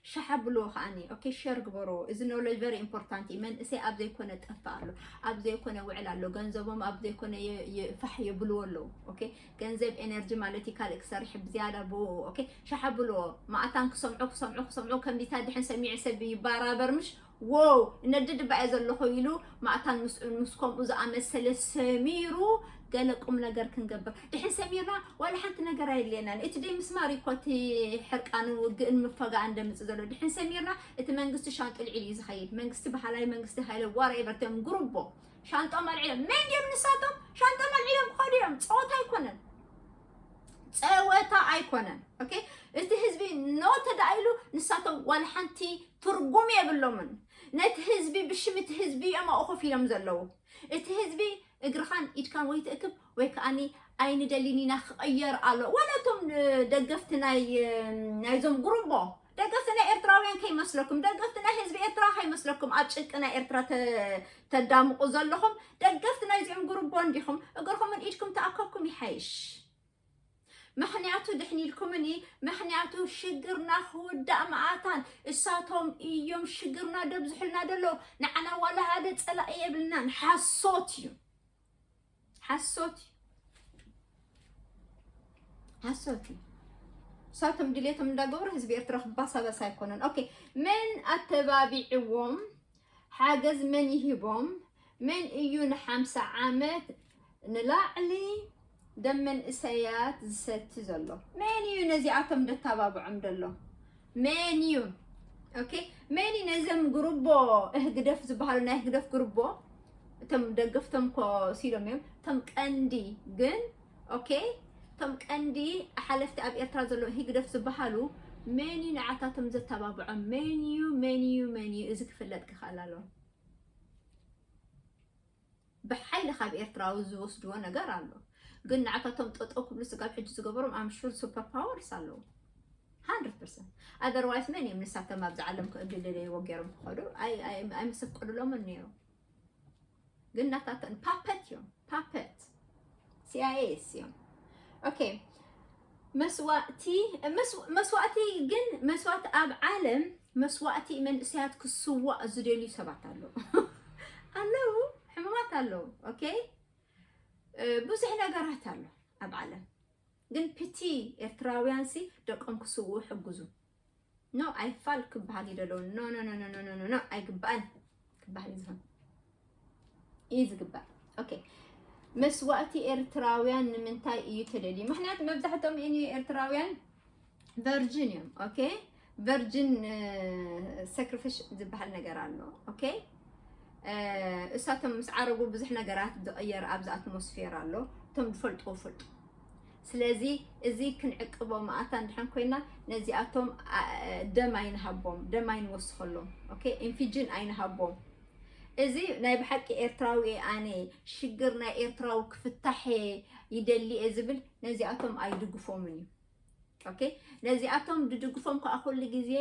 ሸሕ ኣብልዎ ከዓኒ ኦኬ ሸር ግበሮ እዚ ኖሎጅ ቨሪ ኢምፖርታንት እዩ መንእሰይ ኣብ ዘይኮነ ጠፍእ ኣሎ ኣብ ዘይኮነ ውዕል ኣሎ ገንዘቦም ኣብ ዘይኮነ የ- የ- ፋሕ የብልዎ ኣለዉ ኦኬ ገንዘብ ኤነርጂ ማለት እዩ ካልእ ክሰርሕ ብዝያዳ ብኡ ኦኬ ሸሕ ኣብልዎ ማእታን ክሰምዑ ክሰምዑ ክሰምዑ ከምዚታ ድሕን ሰሚዑ ሰብ ይባራበር ምሽ ዎው እነድድ እባ እየ ዘለኹ ኢሉ ማእታን ምስኡን ምስ ከምኡ ዝኣመሰለ ሰሚሩ ገለ ቁም ነገር ክንገብር ድሕን ሰሚርና ዋላ ሓንቲ ነገር ኣየድልየናን እቲ ደይ ምስማር እዩ እኮ እቲ ሕርቃንን ውግእን ምፈጋእን ደምፅእ ዘሎ ድሕን ሰሚርና እቲ መንግስቲ ሻንጡል ዒሉ እዩ ዝኸይድ መንግስቲ ባህላዊ መንግስቲ ሃይለ ዋራ ይበርትዮም ጉሩቦ ሻንጦም ኣልዒሎም መን ድዮም ንሳቶም ሻንጦም ኣልዒሎም ክኸዱ እዮም ፀወታ ኣይኮነን ፀወታ ኣይኮነን ኦኬ እቲ ህዝቢ ኖ ተዳኢሉ ንሳቶም ዋላ ሓንቲ ትርጉም የብሎምን ነቲ ህዝቢ ብሽም እቲ ህዝቢ እዮም ኣብኡ ኮፍ ኢሎም ዘለዉ እቲ ህዝቢ እግርኻን ኢድካን ወይ ትእክብ ወይ ከዓኒ ኣይንደሊን ኢና ክቐየር ኣሎ ዋላ እቶም ደገፍቲ ናይ ናይዞም ጉሩቦ ደገፍቲ ናይ ኤርትራውያን ከይመስለኩም ደገፍቲ ናይ ህዝቢ ኤርትራ ከይመስለኩም ኣብ ጭንቂ ናይ ኤርትራ ተዳምቑ ዘለኹም ደገፍቲ ናይዚኦም ጉርቦ እንዲኹም እግርኹምን ኢድኩም ተኣከብኩም ይሓይሽ ምክንያቱ ድሕን ኢልኩምኒ ምክንያቱ ሽግርና ክውዳእ መዓታን እሳቶም እዮም ሽግርና ደብዝሑልና ደሎ ንዓና ዋላ ሓደ ፀላኢ የብልናን ሓሶት እዩ ሓሶት እዩ ሓሶት እዩ እሳቶም ድሌቶም እንዳገበሩ ህዝቢ ኤርትራ ክባሳበስ ኣይኮነን ኦኬ መን ኣተባቢዕዎም ሓገዝ መን ይሂቦም መን እዩ ንሓምሳ ዓመት ንላዕሊ ደም መንእሰያት ዝሰቲ ዘሎ መን እዩ ነዚኣቶም ደታባብዖም ደሎ መን እዩ ኦኬ መን እዩ ነዘም ጉርቦ ህግደፍ ዝበሃሉ ናይ ህግደፍ ጉርቦ እቶም ደገፍቶም ኮ ሲሎም እዮም እቶም ቀንዲ ግን ኦኬ እቶም ቀንዲ ሓለፍቲ ኣብ ኤርትራ ዘሎ ህግደፍ ዝበሃሉ መን እዩ ንዓታቶም ዘተባብዖም መን እዩ መን እዩ መን እዩ እዚ ክፍለጥ ክኽእል ኣለዎ ብሓይሊ ካብ ኤርትራዊ ዝወስድዎ ነገር ኣሎ ግን ንዓታቶም ጠጠው ክብሉ ስጋብ ሕጂ ዝገበሮም ኣም ሹር ሱፐር ፓወርስ ኣለዉ 100% ኣዘርዋይስ መን እዮም ንሳቶም ኣብዚ ዓለም ክእድልለይዎ ገይሮም ክኸዱ ኣይምሰቀሉሎምን ነይሮም ግን ናታተን ፓፐት እዮም ፓፐት ሲኣይኤ እዮም ኦኬ መስዋእቲ መስዋእቲ ግን መስዋእቲ ኣብ ዓለም መስዋእቲ መንእሰያት ክስዋእ ዝደልዩ ሰባት ኣለዉ ኣለዉ ሕሙማት ኣለዉ ኦኬ ብዙሕ ነገራት ኣሎ ኣብ ዓለም ግን ፒቲ ኤርትራውያን ሲ ደቆም ክስውኡ ሕግዙ ኖ ኣይፋል ክበሃል እዩ ደሎ ኖኖኖኖኖኖ ኣይግባእን ክበሃል እዩ ዝኾን እዩ ዝግባእ ኦኬ መስዋእቲ ኤርትራውያን ንምንታይ እዩ ተደልዩ ምክንያቱ መብዛሕትኦም ን ኤርትራውያን ቨርጅን እዮም ኦኬ ቨርጅን ሰክሪፊሽ ዝበሃል ነገር ኣሎ ኦኬ እሳቶም ምስ ዓረጉ ብዙሕ ነገራት ዝቐየር ኣብዚ ኣትሞስፌር ኣሎ እቶም ዝፈልጥዎ ፈልጡ ስለዚ እዚ ክንዕቅቦ መኣታ እንድሕን ኮይና ነዚኣቶም ደም ኣይንሃቦም፣ ደም ኣይንወስኸሎም፣ ኦኬ ኢንፊጅን ኣይንሃቦም። እዚ ናይ ብሓቂ ኤርትራዊ እየ ኣነ ሽግር ናይ ኤርትራዊ ክፍታሕ ይደሊ እየ ዝብል ነዚኣቶም ኣይድግፎምን እዩ ኦኬ ነዚኣቶም ድድግፎም ከዓ ኩሉ ግዜ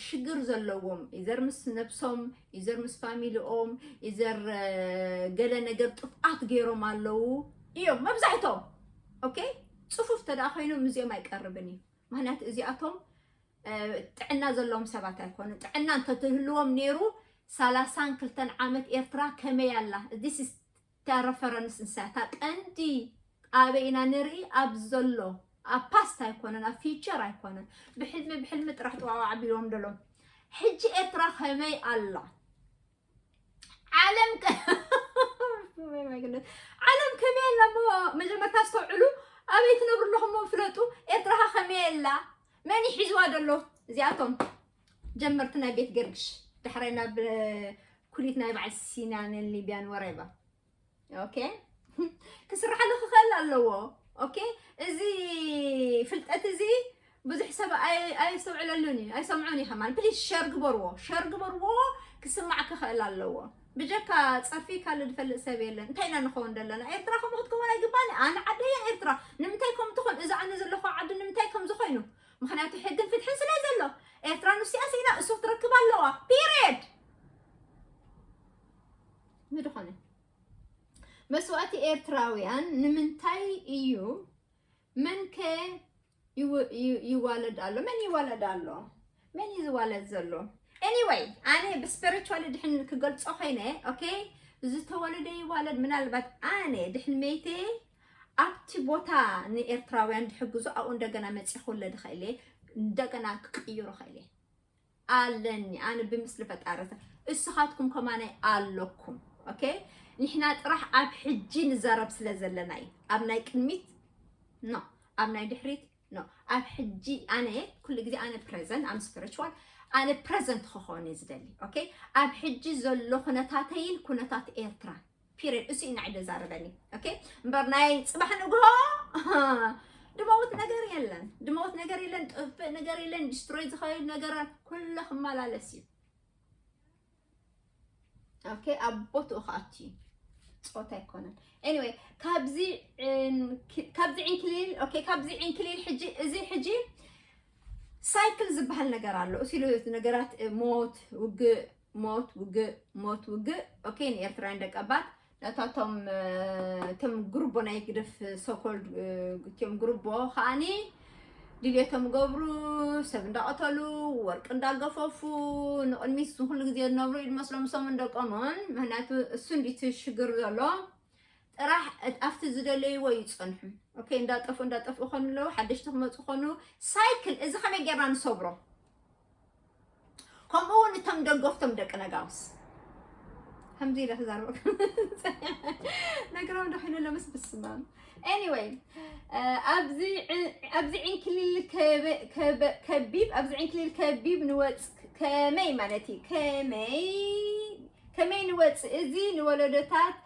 ሽግር ዘለዎም ኢዘር ምስ ነብሶም ኢዘር ምስ ፋሚሊኦም ኢዘር ገለ ነገር ጥፍኣት ገይሮም ኣለዉ እዮም መብዛሕቶም ኦኬ ፅፉፍ ተደኣ ኮይኖም እዚኦም ኣይቀርብን እዩ ምክንያቱ እዚኣቶም ጥዕና ዘለዎም ሰባት ኣይኮኑ ጥዕና እንተትህልዎም ነይሩ ሳላሳን ክልተን ዓመት ኤርትራ ከመይ ኣላ ዚስ እታ ረፈረንስ ንሳ እታ ቀንዲ ኣበይ ኢና ንርኢ ኣብ ዘሎ ኣብ ፓስት ኣይኮነን ኣብ ፊቸር ኣይኮነን ብሕልሚ ብሕልሚ ጥራሕ ጥዋዋዕ ቢሎም ደሎም ሕጂ ኤርትራ ከመይ ኣላ ዓለም ዓለም ከመይ ኣላ እሞ መጀመርታ ኣስተውዕሉ ኣበይ ትነብሩ ኣለኹም ፍለጡ ኤርትራኻ ከመይ ኣላ መን ይሒዝዋ ደሎ እዚኣቶም ጀመርቲ ናይ ቤት ገርግሽ ዳሕራይ ናብ ኩሊት ናይ በዓል ሲናንን ሊብያን ወሬባ ኦኬ ክስርሓሉ ክኽእል ኣለዎ ኦኬ እዚ ፍልጠት እዚ ብዙሕ ሰብ ኣይስተውዕለሉን እዩ ኣይሰምዑን እዩ ከማን ፕሊስ ሸር ግበርዎ ሸር ግበርዎ ክስማዕ ክኽእል ኣለዎ ብጀካ ፀርፊ ካልእ ዝፈልጥ ሰብ የለን እንታይ ኢና ንኸውን ዘለና ኤርትራ ከምኡ ክትከውን ኣይግባን ኣነ ዓደየ ኤርትራ ንምንታይ ከም ትኾን እዚ ኣነ ዘለኹ ዓዲ ንምንታይ ከምዚ ኮይኑ ምክንያቱ ሕግን ፍትሕን ስለ ዘሎ ኤርትራ ንስኣ ስኢና እሱ ክትረክብ ኣለዋ ፒሪድ ምድኾነ መስዋእቲ ኤርትራውያን ንምንታይ እዩ መንከ ይዋለድ ኣሎ መን ይዋለድ ኣሎ መን እዩ ዝዋለድ ዘሎ ኤኒወይ ኣነ ብስፒሪቹዋሊ ድሕን ክገልፆ ኮይነ ኦኬ ዝተወለደ ይዋለድ ምናልባት ኣነ ድሕን መይተ ኣብቲ ቦታ ንኤርትራውያን ዝሕግዙ ኣብኡ እንደገና መፅየ ክውለድ ይኽእል እየ እንደገና ክቅይሮ ይኽእል እየ ኣለኒ ኣነ ብምስሊ ፈጣሪ እስኻትኩም ከማናይ ኣለኩም ኦኬ ንሕና ጥራሕ ኣብ ሕጂ ንዛረብ ስለ ዘለና እዩ ኣብ ናይ ቅድሚት ኖ ኣብ ናይ ድሕሪት ኖ ኣብ ሕጂ ኣነ ኩሉ ግዜ ኣነ ፕሬዘንት ኣም ስፒሪቹዋል ኣነ ፕሬዘንት ክኸውን እዩ ዝደሊ ኦኬ ኣብ ሕጂ ዘሎ ኩነታተይን ኩነታት ኤርትራ ፒርድ እሱ ኢና ዕደ ዛረበኒ ኦኬ እምበር ናይ ፅባሕ ንግሆ ድመውት ነገር የለን ድመውት ነገር የለን ጥፍእ ነገር የለን ዲስትሮይ ዝኸይድ ነገር ኩሉ ክመላለስ እዩ ኦኬ ኣብ ቦትኡ ከኣት እዩ ፆታ ኣይኮነን ኤኒዌይ ካብዚ ካብዚ ዕንክሊል ኦኬ ካብዚ ዕንክሊል ሕጂ እዚ ሕጂ ሳይክል ዝበሃል ነገር ኣሎ እሱ ነገራት ሞት ውግእ ሞት ውግእ ሞት ውግእ ኦኬ ንኤርትራውያን ደቀባት ነታቶም እቶም ጉርቦ ናይ ግደፍ ሶኮል እትዮም ጉርቦ ከዓኒ ድልየቶም ገብሩ ሰብ እንዳቐተሉ ወርቂ እንዳገፈፉ ንቕድሚት ዝኹሉ ግዜ ዝነብሩ ኢድ መስሎም ሰሙን ደቆምን ምክንያቱ እሱ እንዲቲ ሽግር ዘሎ ጥራሕ ኣብቲ ዝደለይዎ ይፀንሑ ኦኬ እንዳጠፍኡ እንዳጠፍኡ ኮኑ ኣለዉ ሓደሽቲ ክመፁ ኮኑ ሳይክል እዚ ከመይ ጌርና ንሰብሮ ከምኡ እውን እቶም ደገፍቶም ደቂ ነጋውስ ከምዚ ኢለ ክዛረበ ነገሮም ደኺኑ ለምስ ብስማም ኤኒወይ ኣብዚ ኣብዚ ዕንክሊል ከቢብ ኣብዚ ዕንክሊል ከቢብ ንወፅ ከመይ ማለት እዩ ከመይ ከመይ ንወፅ እዚ ንወለዶታት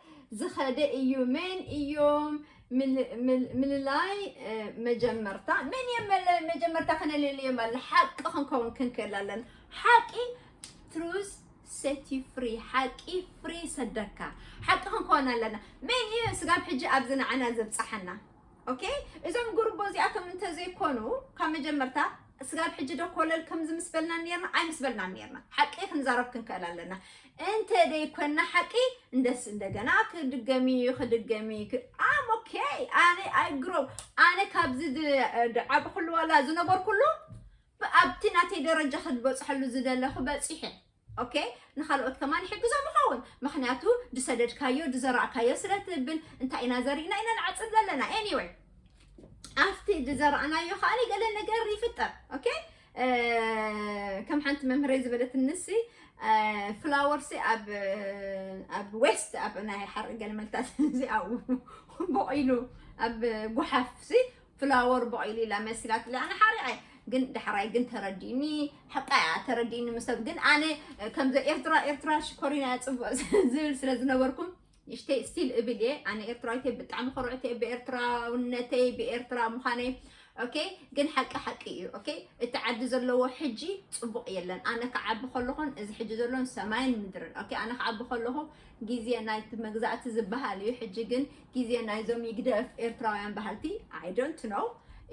ዝኸደ እዩ መን እዮም ምልላይ መጀመርታ መን እየ መለ- መጀመርታ ከነለልዮም ኣለ ሓቂ ክንከውን ክንክእል ኣለና ሓቂ ትሩዝ ሴት ዩ ፍሪ ሓቂ ፍሪ ሰደካ ሓቂ ክንከውን ኣለና መን እዩ ስጋብ ሕጂ ኣብዚ ንዓና ዘብፅሓና ኦኬ እዞም ጉርቦ እዚኣቶም እንተዘይኮኑ ካብ መጀመርታ ስጋብ ሕጂ ዶ ኮለል ከምዚ ምስ በልና ነርና ኣይ ምስ በልና ነርና ሓቂ ክንዛረብ ክንክእል ኣለና እንተ ደይ ኮና ሓቂ እንደስ እንደገና ክድገሚ ክድገሚ ኣም ኦኬ ኣነ ኣይግሮ ኣነ ካብዚ ድዓብኩሉ ዋላ ዝነበርኩሉ ኣብቲ ናተይ ደረጃ ክድበፅሐሉ ዝደለኹ በፂሐ ኦኬ ንካልኦት ከማን ይሕግዞም ይኸውን ምክንያቱ ድሰደድካዮ ድዘራእካዮ ስለ ትብል እንታይ ኢና ዘሪእና ኢና ንዓፅድ ዘለና ኤኒወይ ኣብቲ ድዘራእናዮ ከዓኒ ገለ ነገር ይፍጠር ኦኬ ከም ሓንቲ መምህረይ ዝበለትንሲ ፍላወርሲ ኣብ ኣብ ዌስት ኣብ ናይ ሓርኢ ገልመልታት እዚ ኣብኡ ቦቂሉ ኣብ ጉሓፍሲ ፍላወር ቦቂሉ ኢላ መሲላት ኣነ ሓሪኣይ ግን ዳሕራይ ግን ተረዲኒ ሓቃ እያ ተረዲኒ ምሰብ ግን ኣነ ከምዚ ኤርትራ ኤርትራ ሽኮሪና እያ ፅቡቅ ዝብል ስለ ዝነበርኩም ንእሽተይ እስቲል እብል እየ ኣነ ኤርትራዊት እየ ብጣዕሚ ኮርዕቲ እየ ብኤርትራውነተይ ብኤርትራ ምዃነይ ኦኬ ግን ሓቂ ሓቂ እዩ ኦኬ እቲ ዓዲ ዘለዎ ሕጂ ፅቡቕ የለን ኣነ ክዓቢ ከለኹን እዚ ሕጂ ዘሎን ሰማይን ምድርን ኦኬ ኣነ ክዓቢ ከለኹ ግዜ ናይቲ መግዛእቲ ዝበሃል እዩ ሕጂ ግን ግዜ ናይዞም ይግደፍ ኤርትራውያን በሃልቲ ኣይ ዶንት ኖው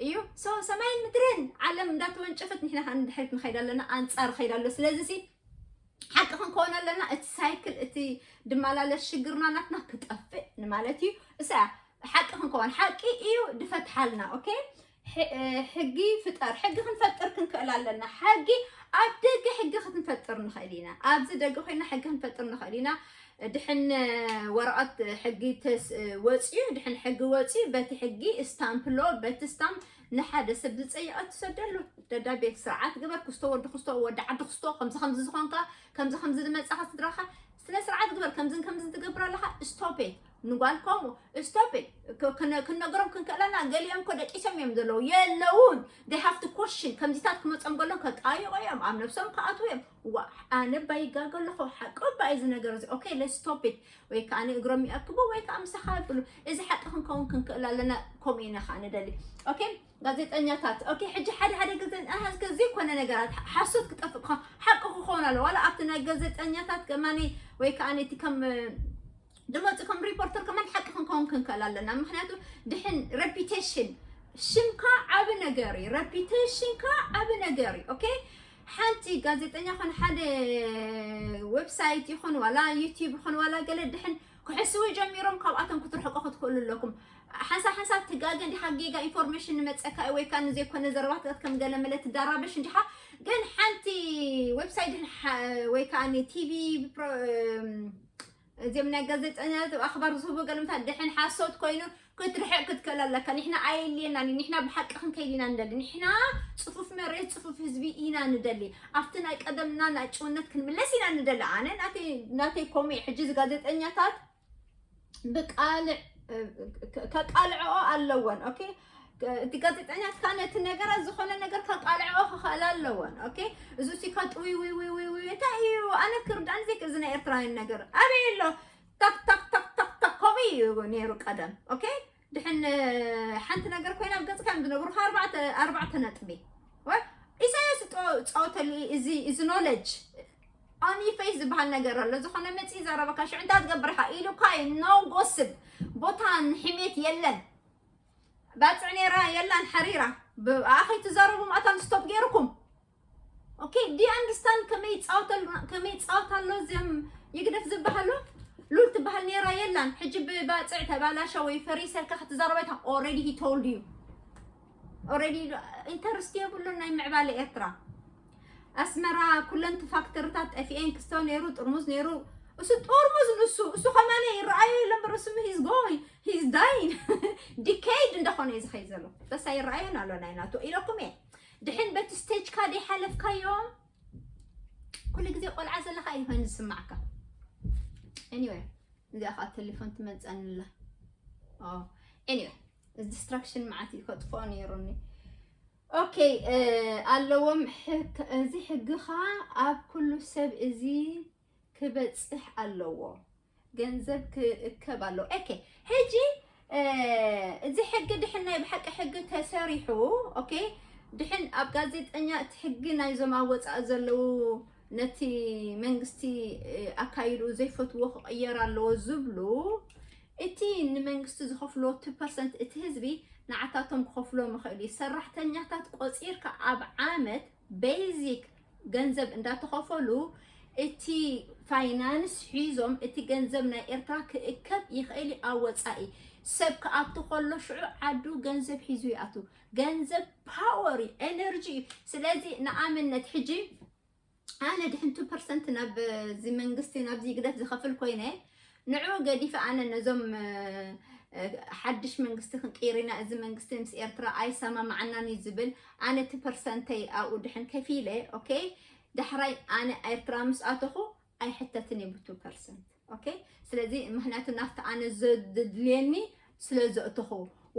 እዩ ሶ ሰማይን ምድርን ዓለም እንዳተወንጨፈት ንሕና ከዓ ንድሕሪት ንኸይድ ኣለና ኣንፃር ኸይድ ኣሎ ስለዚ ሲ ሓቂ ክንከውን ኣለና እቲ ሳይክል እቲ ድመላለስ ሽግርና ናትና ክጠፍእ ንማለት እዩ እሳ ሓቂ ክንከውን ሓቂ እዩ ድፈትሓልና ኦኬ ሕጊ ፍጠር ሕጊ ክንፈጥር ክንክእል ኣለና ሕጊ ኣብ ደገ ሕጊ ክትንፈጥር ንኽእል ኢና ኣብዚ ደገ ኮይና ሕጊ ክንፈጥር ንኽእል ኢና ድሕን ወረቐት ሕጊ ወፅዩ ድሕን ሕጊ ወፅዩ በቲ ሕጊ ስታምፕሎ በቲ ስታምፕ ንሓደ ሰብ ዝጸየቐ ትሰደሉ ደብዳቤ ስርዓት ግበር ክስቶ ወዲ ክስቶ ወዲ ዓዲ ክስቶ ከምዚ ከምዚ ዝኾንካ ከምዚ ከምዚ ዝመጻኻ ስድራኻ ስነ ስርዓት ግበር ከምዝን ከምዝን ትገብር ኣለኻ ስቶፔ ንጓል ከምኡ ስቶፕ ክንነገሮም ክንክእለና ገሊኦም እኮ ደቂሶም እዮም ዘለዉ የለውን ዴይ ሃፍቲ ኮሽን ከምዚታት ክመፆም ከሎ ከጣይቆ እዮም ኣብ ነብሶም ክኣትዉ እዮም ዋ ኣነ ባይጋገ ኣለኹ ሓቂ ባይ እዚ ነገር እዚ ኦኬ ለስቶፕ ወይ ከዓ ንእግሮም ይኣክቡ ወይ ከዓ ምሳኻ ይብሉ እዚ ሓቂ ክንከውን ክንክእል ኣለና ከምኡ ኢና ከዓ ንደሊ ኦኬ ጋዜጠኛታት ኦኬ ሕጂ ሓደ ሓደ ግዜ ኣሃዝከ ዘይኮነ ነገራት ሓሶት ክጠፍእ ክኸውን ሓቂ ክኸውን ኣለዎ ዋላ ኣብቲ ናይ ጋዜጠኛታት ከማኒ ወይ ከዓ ነቲ ከም ድመፂ ከም ሪፖርተር ከማን ሓቂ ክንከውን ክንክእል ኣለና ምክንያቱ ድሕን ረፒቴሽን ሽምካ ዓብ ነገር እዩ ረፒቴሽንካ ዓብ ነገር እዩ ኦኬ ሓንቲ ጋዜጠኛ ኹን ሓደ ዌብሳይት ይኹን ዋላ ዩቲዩብ ይኹን ዋላ ገለ ድሕን ክሕስዊ ጀሚሮም ካብኣቶም ክትርሕቁ ክትክእሉ ኣለኩም ሓንሳብ ሓንሳብ ትጋገ እንዲኻ ጌጋ ኢንፎርሜሽን ንመፀካ እዩ ወይ ከዓ ንዘይኮነ ዘረባታት ከም ገለ መለ ትዳራበሽ እንዲኻ ግን ሓንቲ ዌብሳይት ድሕን ወይ ከዓ ቲቪ እዚም ናይ ጋዜጠኛታት ኣኽባር ዝህቡ ገልምታት ድሕን ሓሶት ኮይኑ ክትርሕቅ ክትክእል ኣለካ ንሕና ኣየልየናን እዩ ንሕና ብሓቂ ክንከይድ ኢና ንደሊ ንሕና ፅፉፍ መሬት ፅፉፍ ህዝቢ ኢና ንደሊ ኣብቲ ናይ ቀደምና ናይ ጭውነት ክንምለስ ኢና ንደሊ ኣነ ናተይ ኮሙ እዩ ሕጂ ጋዜጠኛታት ብቃልዕ ከቃልዕኦ ኣለወን ኦኬ እቲ ጋዜጠኛት ካን እቲ ነገራት ዝኾነ ነገር ከቃልዕኦ ክኽእል ኣለወን ኦኬ እዚ ሲካት ውይ ውይ ውይ ውይ ውይ እንታይ እዩ ኣነ ክርዳእኒ ዘይክ እዚ ናይ ኤርትራውያን ነገር ኣበይ ኣሎ ታክ ታክ ታክ ታክ ታክ ከምኡ እዩ ነይሩ ቀደም ኦኬ ድሕን ሓንቲ ነገር ኮይና ኣብ ገጽካ እዮም ዝነግሩካ ኣርባዕተ ኣርባዕተ ነጥቢ ወይ ኢሳያስ ጸወተሉ እዚ እዚ ኖለጅ ኦኒ ፌስ ዝበሃል ነገር ኣሎ ዝኾነ መጽ ዘረበካ ሽዑ እንታይ ትገብር ኢኻ ኢሉካ እዩ ኖ ጎስብ ቦታን ሕሜት የለን ባጽዕ ኔራ የላን ሓሪራ ብኣ ከይትዛረቡ ማእታን ስቶፕ ጌርኩም ኦኬ ዲ ኣንድስታን ከመይ ይጻወተልና ከመይ ይጻወት ኣሎ ዘም ይግደፍ ዝበሃሉ ሉል ትበሃል ኔራ የላን ሕጂ ብባጽዕ ተባላሸ ወይ ፈሪሰ ኢልካ ክትዛረብ ኣይታ ኦልሬዲ ሂ ቶልድ ዩ ኦልሬዲ ኢንተርስቲ የብሉን ናይ ምዕባለ ኤርትራ ኣስመራ ኩለንቲ ፋክተርታት ጠፊኤን ክስቶ ነይሩ ጥርሙዝ ነይሩ እሱ ጥርሙዝ ንሱ እሱ ከማነ ይረኣዮ የለ እምበር እሱ ሂዝ ጎይ ሂዝ ዳይን ዲኬይድ እንደኾነ እዩ ዝኸይ ዘሎ በሳ ይረኣዮን ኣሎ ናይ ናቱ ኢለኩም እየ ድሕን በቲ ስቴጅካ ደይሓለፍካዮ ኩሉ ግዜ ቆልዓ ዘለካ እዩ ኮይኑ ዝስማዕካ ኤኒዌይ እዚኣ ከዓ ቴሌፎን ትመፀኒ ኣላ ኤኒዌይ ዲስትራክሽን መዓት እዩ ከጥፍኦ ነይሩኒ ኦኬ ኣለዎም እዚ ሕጊ ኸዓ ኣብ ኩሉ ሰብ እዚ ክበፅሕ ኣለዎ ገንዘብ ክእከብ ኣለዎ ኦኬ ሕጂ እዚ ሕጊ ድሕን ናይ ብሓቂ ሕጊ ተሰሪሑ ኦኬ ድሕን ኣብ ጋዜጠኛ እቲ ሕጊ ናይዞም ኣብ ወፃኢ ዘለዉ ነቲ መንግስቲ ኣካይድኡ ዘይፈትዎ ክቕየር ኣለዎ ዝብሉ እቲ ንመንግስቲ ዝኸፍልዎ እቲ ፐርሰንት እቲ ህዝቢ ንዓታቶም ክኸፍሎም ይኽእል እዩ። ሰራሕተኛታት ቆፂርካ ኣብ ዓመት ቤዚክ ገንዘብ እንዳተኸፈሉ እቲ ፋይናንስ ሒዞም እቲ ገንዘብ ናይ ኤርትራ ክእከብ ይኽእል እዩ ኣብ ወፃኢ ሰብ ክኣቱ ከሎ ሽዑ ዓዱ ገንዘብ ሒዙ ይኣቱ። ገንዘብ ፓወር እዩ፣ ኤነርጂ እዩ። ስለዚ ንኣምነት ሕጂ ኣነ ድሕንቱ ፐርሰንት ናብዚ መንግስቲ ናብዚ ግደፍ ዝኸፍል ኮይነ ንዑ ገዲፈ ኣነ ነዞም ሓድሽ መንግስቲ ክንቅይር ኢና እዚ መንግስቲ ምስ ኤርትራ ኣይሰማማዓናን እዩ ዝብል ኣነ እቲ ፐርሰንተይ ኣብኡ ድሕን ከፊለ ኦኬ ዳሕራይ ኣነ ኤርትራ ምስ ኣተኹ ኣይሕተትን እየ ብቱ ፐርሰንት ኦኬ ስለዚ ምክንያቱ ናብቲ ኣነ ዘድልየኒ ስለ ዘእተኹ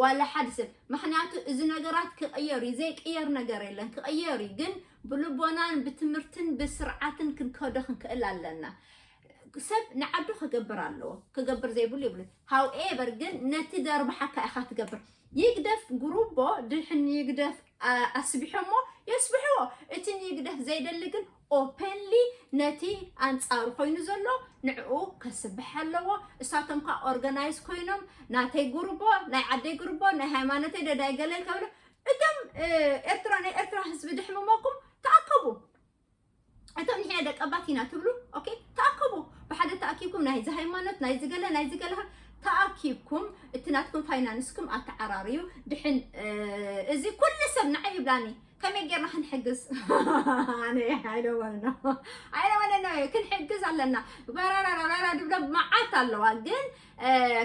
ዋላ ሓደ ሰብ ምክንያቱ እዚ ነገራት ክቕየር እዩ ዘይቅየር ነገር የለን ክቕየር እዩ ግን ብልቦናን ብትምህርትን ብስርዓትን ክንከዶ ክንክእል ኣለና ሰብ ንዓዱ ክገብር ኣለዎ ክገብር ዘይብሉ ይብሉ ሃውኤቨር ግን ነቲ ደርባሓካ ኢኻ ትገብር ይግደፍ ጉሩቦ ድሕን ይግደፍ ኣስቢሖሞ የስብሕዎ እቲ ንይግደፍ ዘይደሊ ግን ኦፐንሊ ነቲ ኣንጻሩ ኮይኑ ዘሎ ንዕኡ ከስብሕ ኣለዎ እሳቶም ከ ኦርጋናይዝ ኮይኖም ናተይ ጉርቦ ናይ ዓደይ ጉርቦ ናይ ሃይማኖተይ ዶ ናይ ገለይ ከብሉ እቶም ኤርትራ ናይ ኤርትራ ህዝቢ ድሕምመኩም ተኣከቡ እቶም ንሕና ደቀባት ኢና ትብሉ ኦኬ ተኣከቡ ብሓደ ተኣኪብኩም ናይ ሃይማኖት ናይ ዝገለ ናይ ዝገለ ተኣኪብኩም እቲ ናትኩም ፋይናንስኩም ኣተዓራርዩ ድሕን እዚ ኩሉ ሰብ ንዓይ ይብላኒ ከመይ ጌርና ክንሕግዝ ኣነ ኣይደወንኖ ኣይደወንኖ እዩ ክንሕግዝ ኣለና በራራራራ ድብሎ መዓት ኣለዋ ግን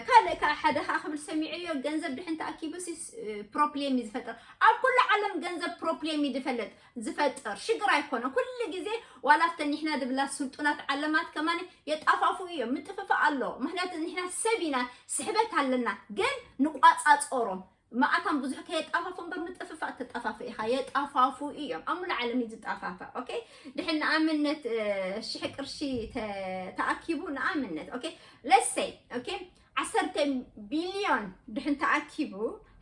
ካልእ ከዓ ሓደ ከዓ ክብል ሰሚዐዮ ገንዘብ ድሕን ተኣኪቡ ፕሮፕሌም እዩ ዝፈጥር ኣብ ኩሉ ዓለም ገንዘብ ፕሮፕሌም እዩ ዝፈለጥ ዝፈጥር ሽግር ኣይኮነ ኩሉ ግዜ ዋላ ኣብተን ንሕና ድብላ ስልጡናት ዓለማት ከማን የጣፋፉ እዮም ምጥፍፋእ ኣሎ ምክንያቱ ንሕና ሰብ ኢና ስሕበት ኣለና ግን ንቋፃፀሮም መኣታን ብዙሕ ከየጣፋፍኡ እምበር ምጥፍፋእ እትጣፋፍእ ኢኻ የጣፋፍኡ እዮም ኣብ ሙሉእ ዓለም እዩ ዝጣፋፋእ ኦኬ ድሕን ንኣብነት እ፣ ሽሕ ቅርሺ ተ- ተኣኪቡ ንኣብነት ኦኬ ለሰይ ኦኬ ዓሰርተ ቢልዮን ድሕን ተኣኪቡ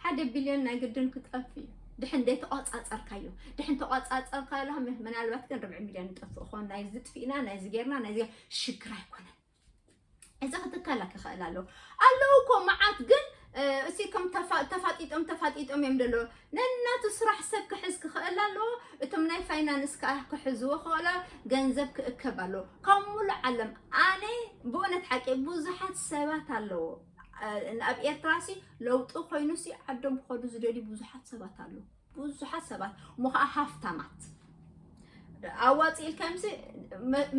ሓደ ቢልዮን ናይ ግድን ክጠፍ እዩ ድሕን ዘይተቆፃፀርካዮ ድሕን ተቆፃፀርካዮ ምናልባት ግን ርብዒ ሚልዮን ይጠፍእ ኾን ናይዚ ጥፊእና ናይዚ ጌርና ናይዚ ሽግር ኣይኮነን እዚ ክትከላ ክኽእል ኣለዎ ኣለዉ እኮ መዓት ግን እሲ ከም ተፋጢጦም ተፋጢጦም እዮም ደሎ ነናቱ ስራሕ ሰብ ክሕዝ ክኽእል ኣለዎ እቶም ናይ ፋይናንስ ከዓ ክሕዝዎ ክኽእሎ ገንዘብ ክእከብ ኣለዎ ካብ ሙሉእ ዓለም ኣነ ብእውነት ሓቂ ብዙሓት ሰባት ኣለዎ ኣብ ኤርትራ ሲ ለውጢ ኮይኑ ሲ ዓዶም ክኸዱ ዝደልዩ ብዙሓት ሰባት ኣለዉ ብዙሓት ሰባት እሞ ከዓ ሃፍታማት ኣዋፂ ኢልካ ምስ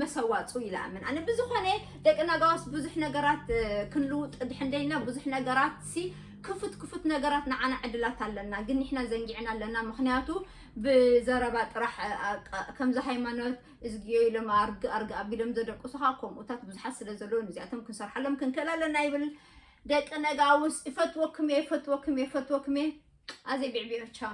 መሰዋፁ ይላምን ኣነ ብዝኾነ ደቂ ነጋዋስ ብዙሕ ነገራት ክንልውጥ ድሕንደይና ብዙሕ ነገራት ሲ ክፉት ክፉት ነገራት ንዓና ዕድላት ኣለና ግን ንሕና ዘንጊዕና ኣለና ምክንያቱ ብዘረባ ጥራሕ ከምዚ ሃይማኖት እዝግዮ ኢሎም ኣርግ ኣርግ ኣቢሎም ዘደቅሱኻ ከምኡታት ብዙሓት ስለ ዘለዉ ንዚኣቶም ክንሰርሓሎም ክንክእል ኣለና ይብል ደቂ ነጋውስ እፈትወኩም እየ እፈትወኩም እየ እፈትወኩም እየ ኣዘይ ቢዕቢዖ ቻው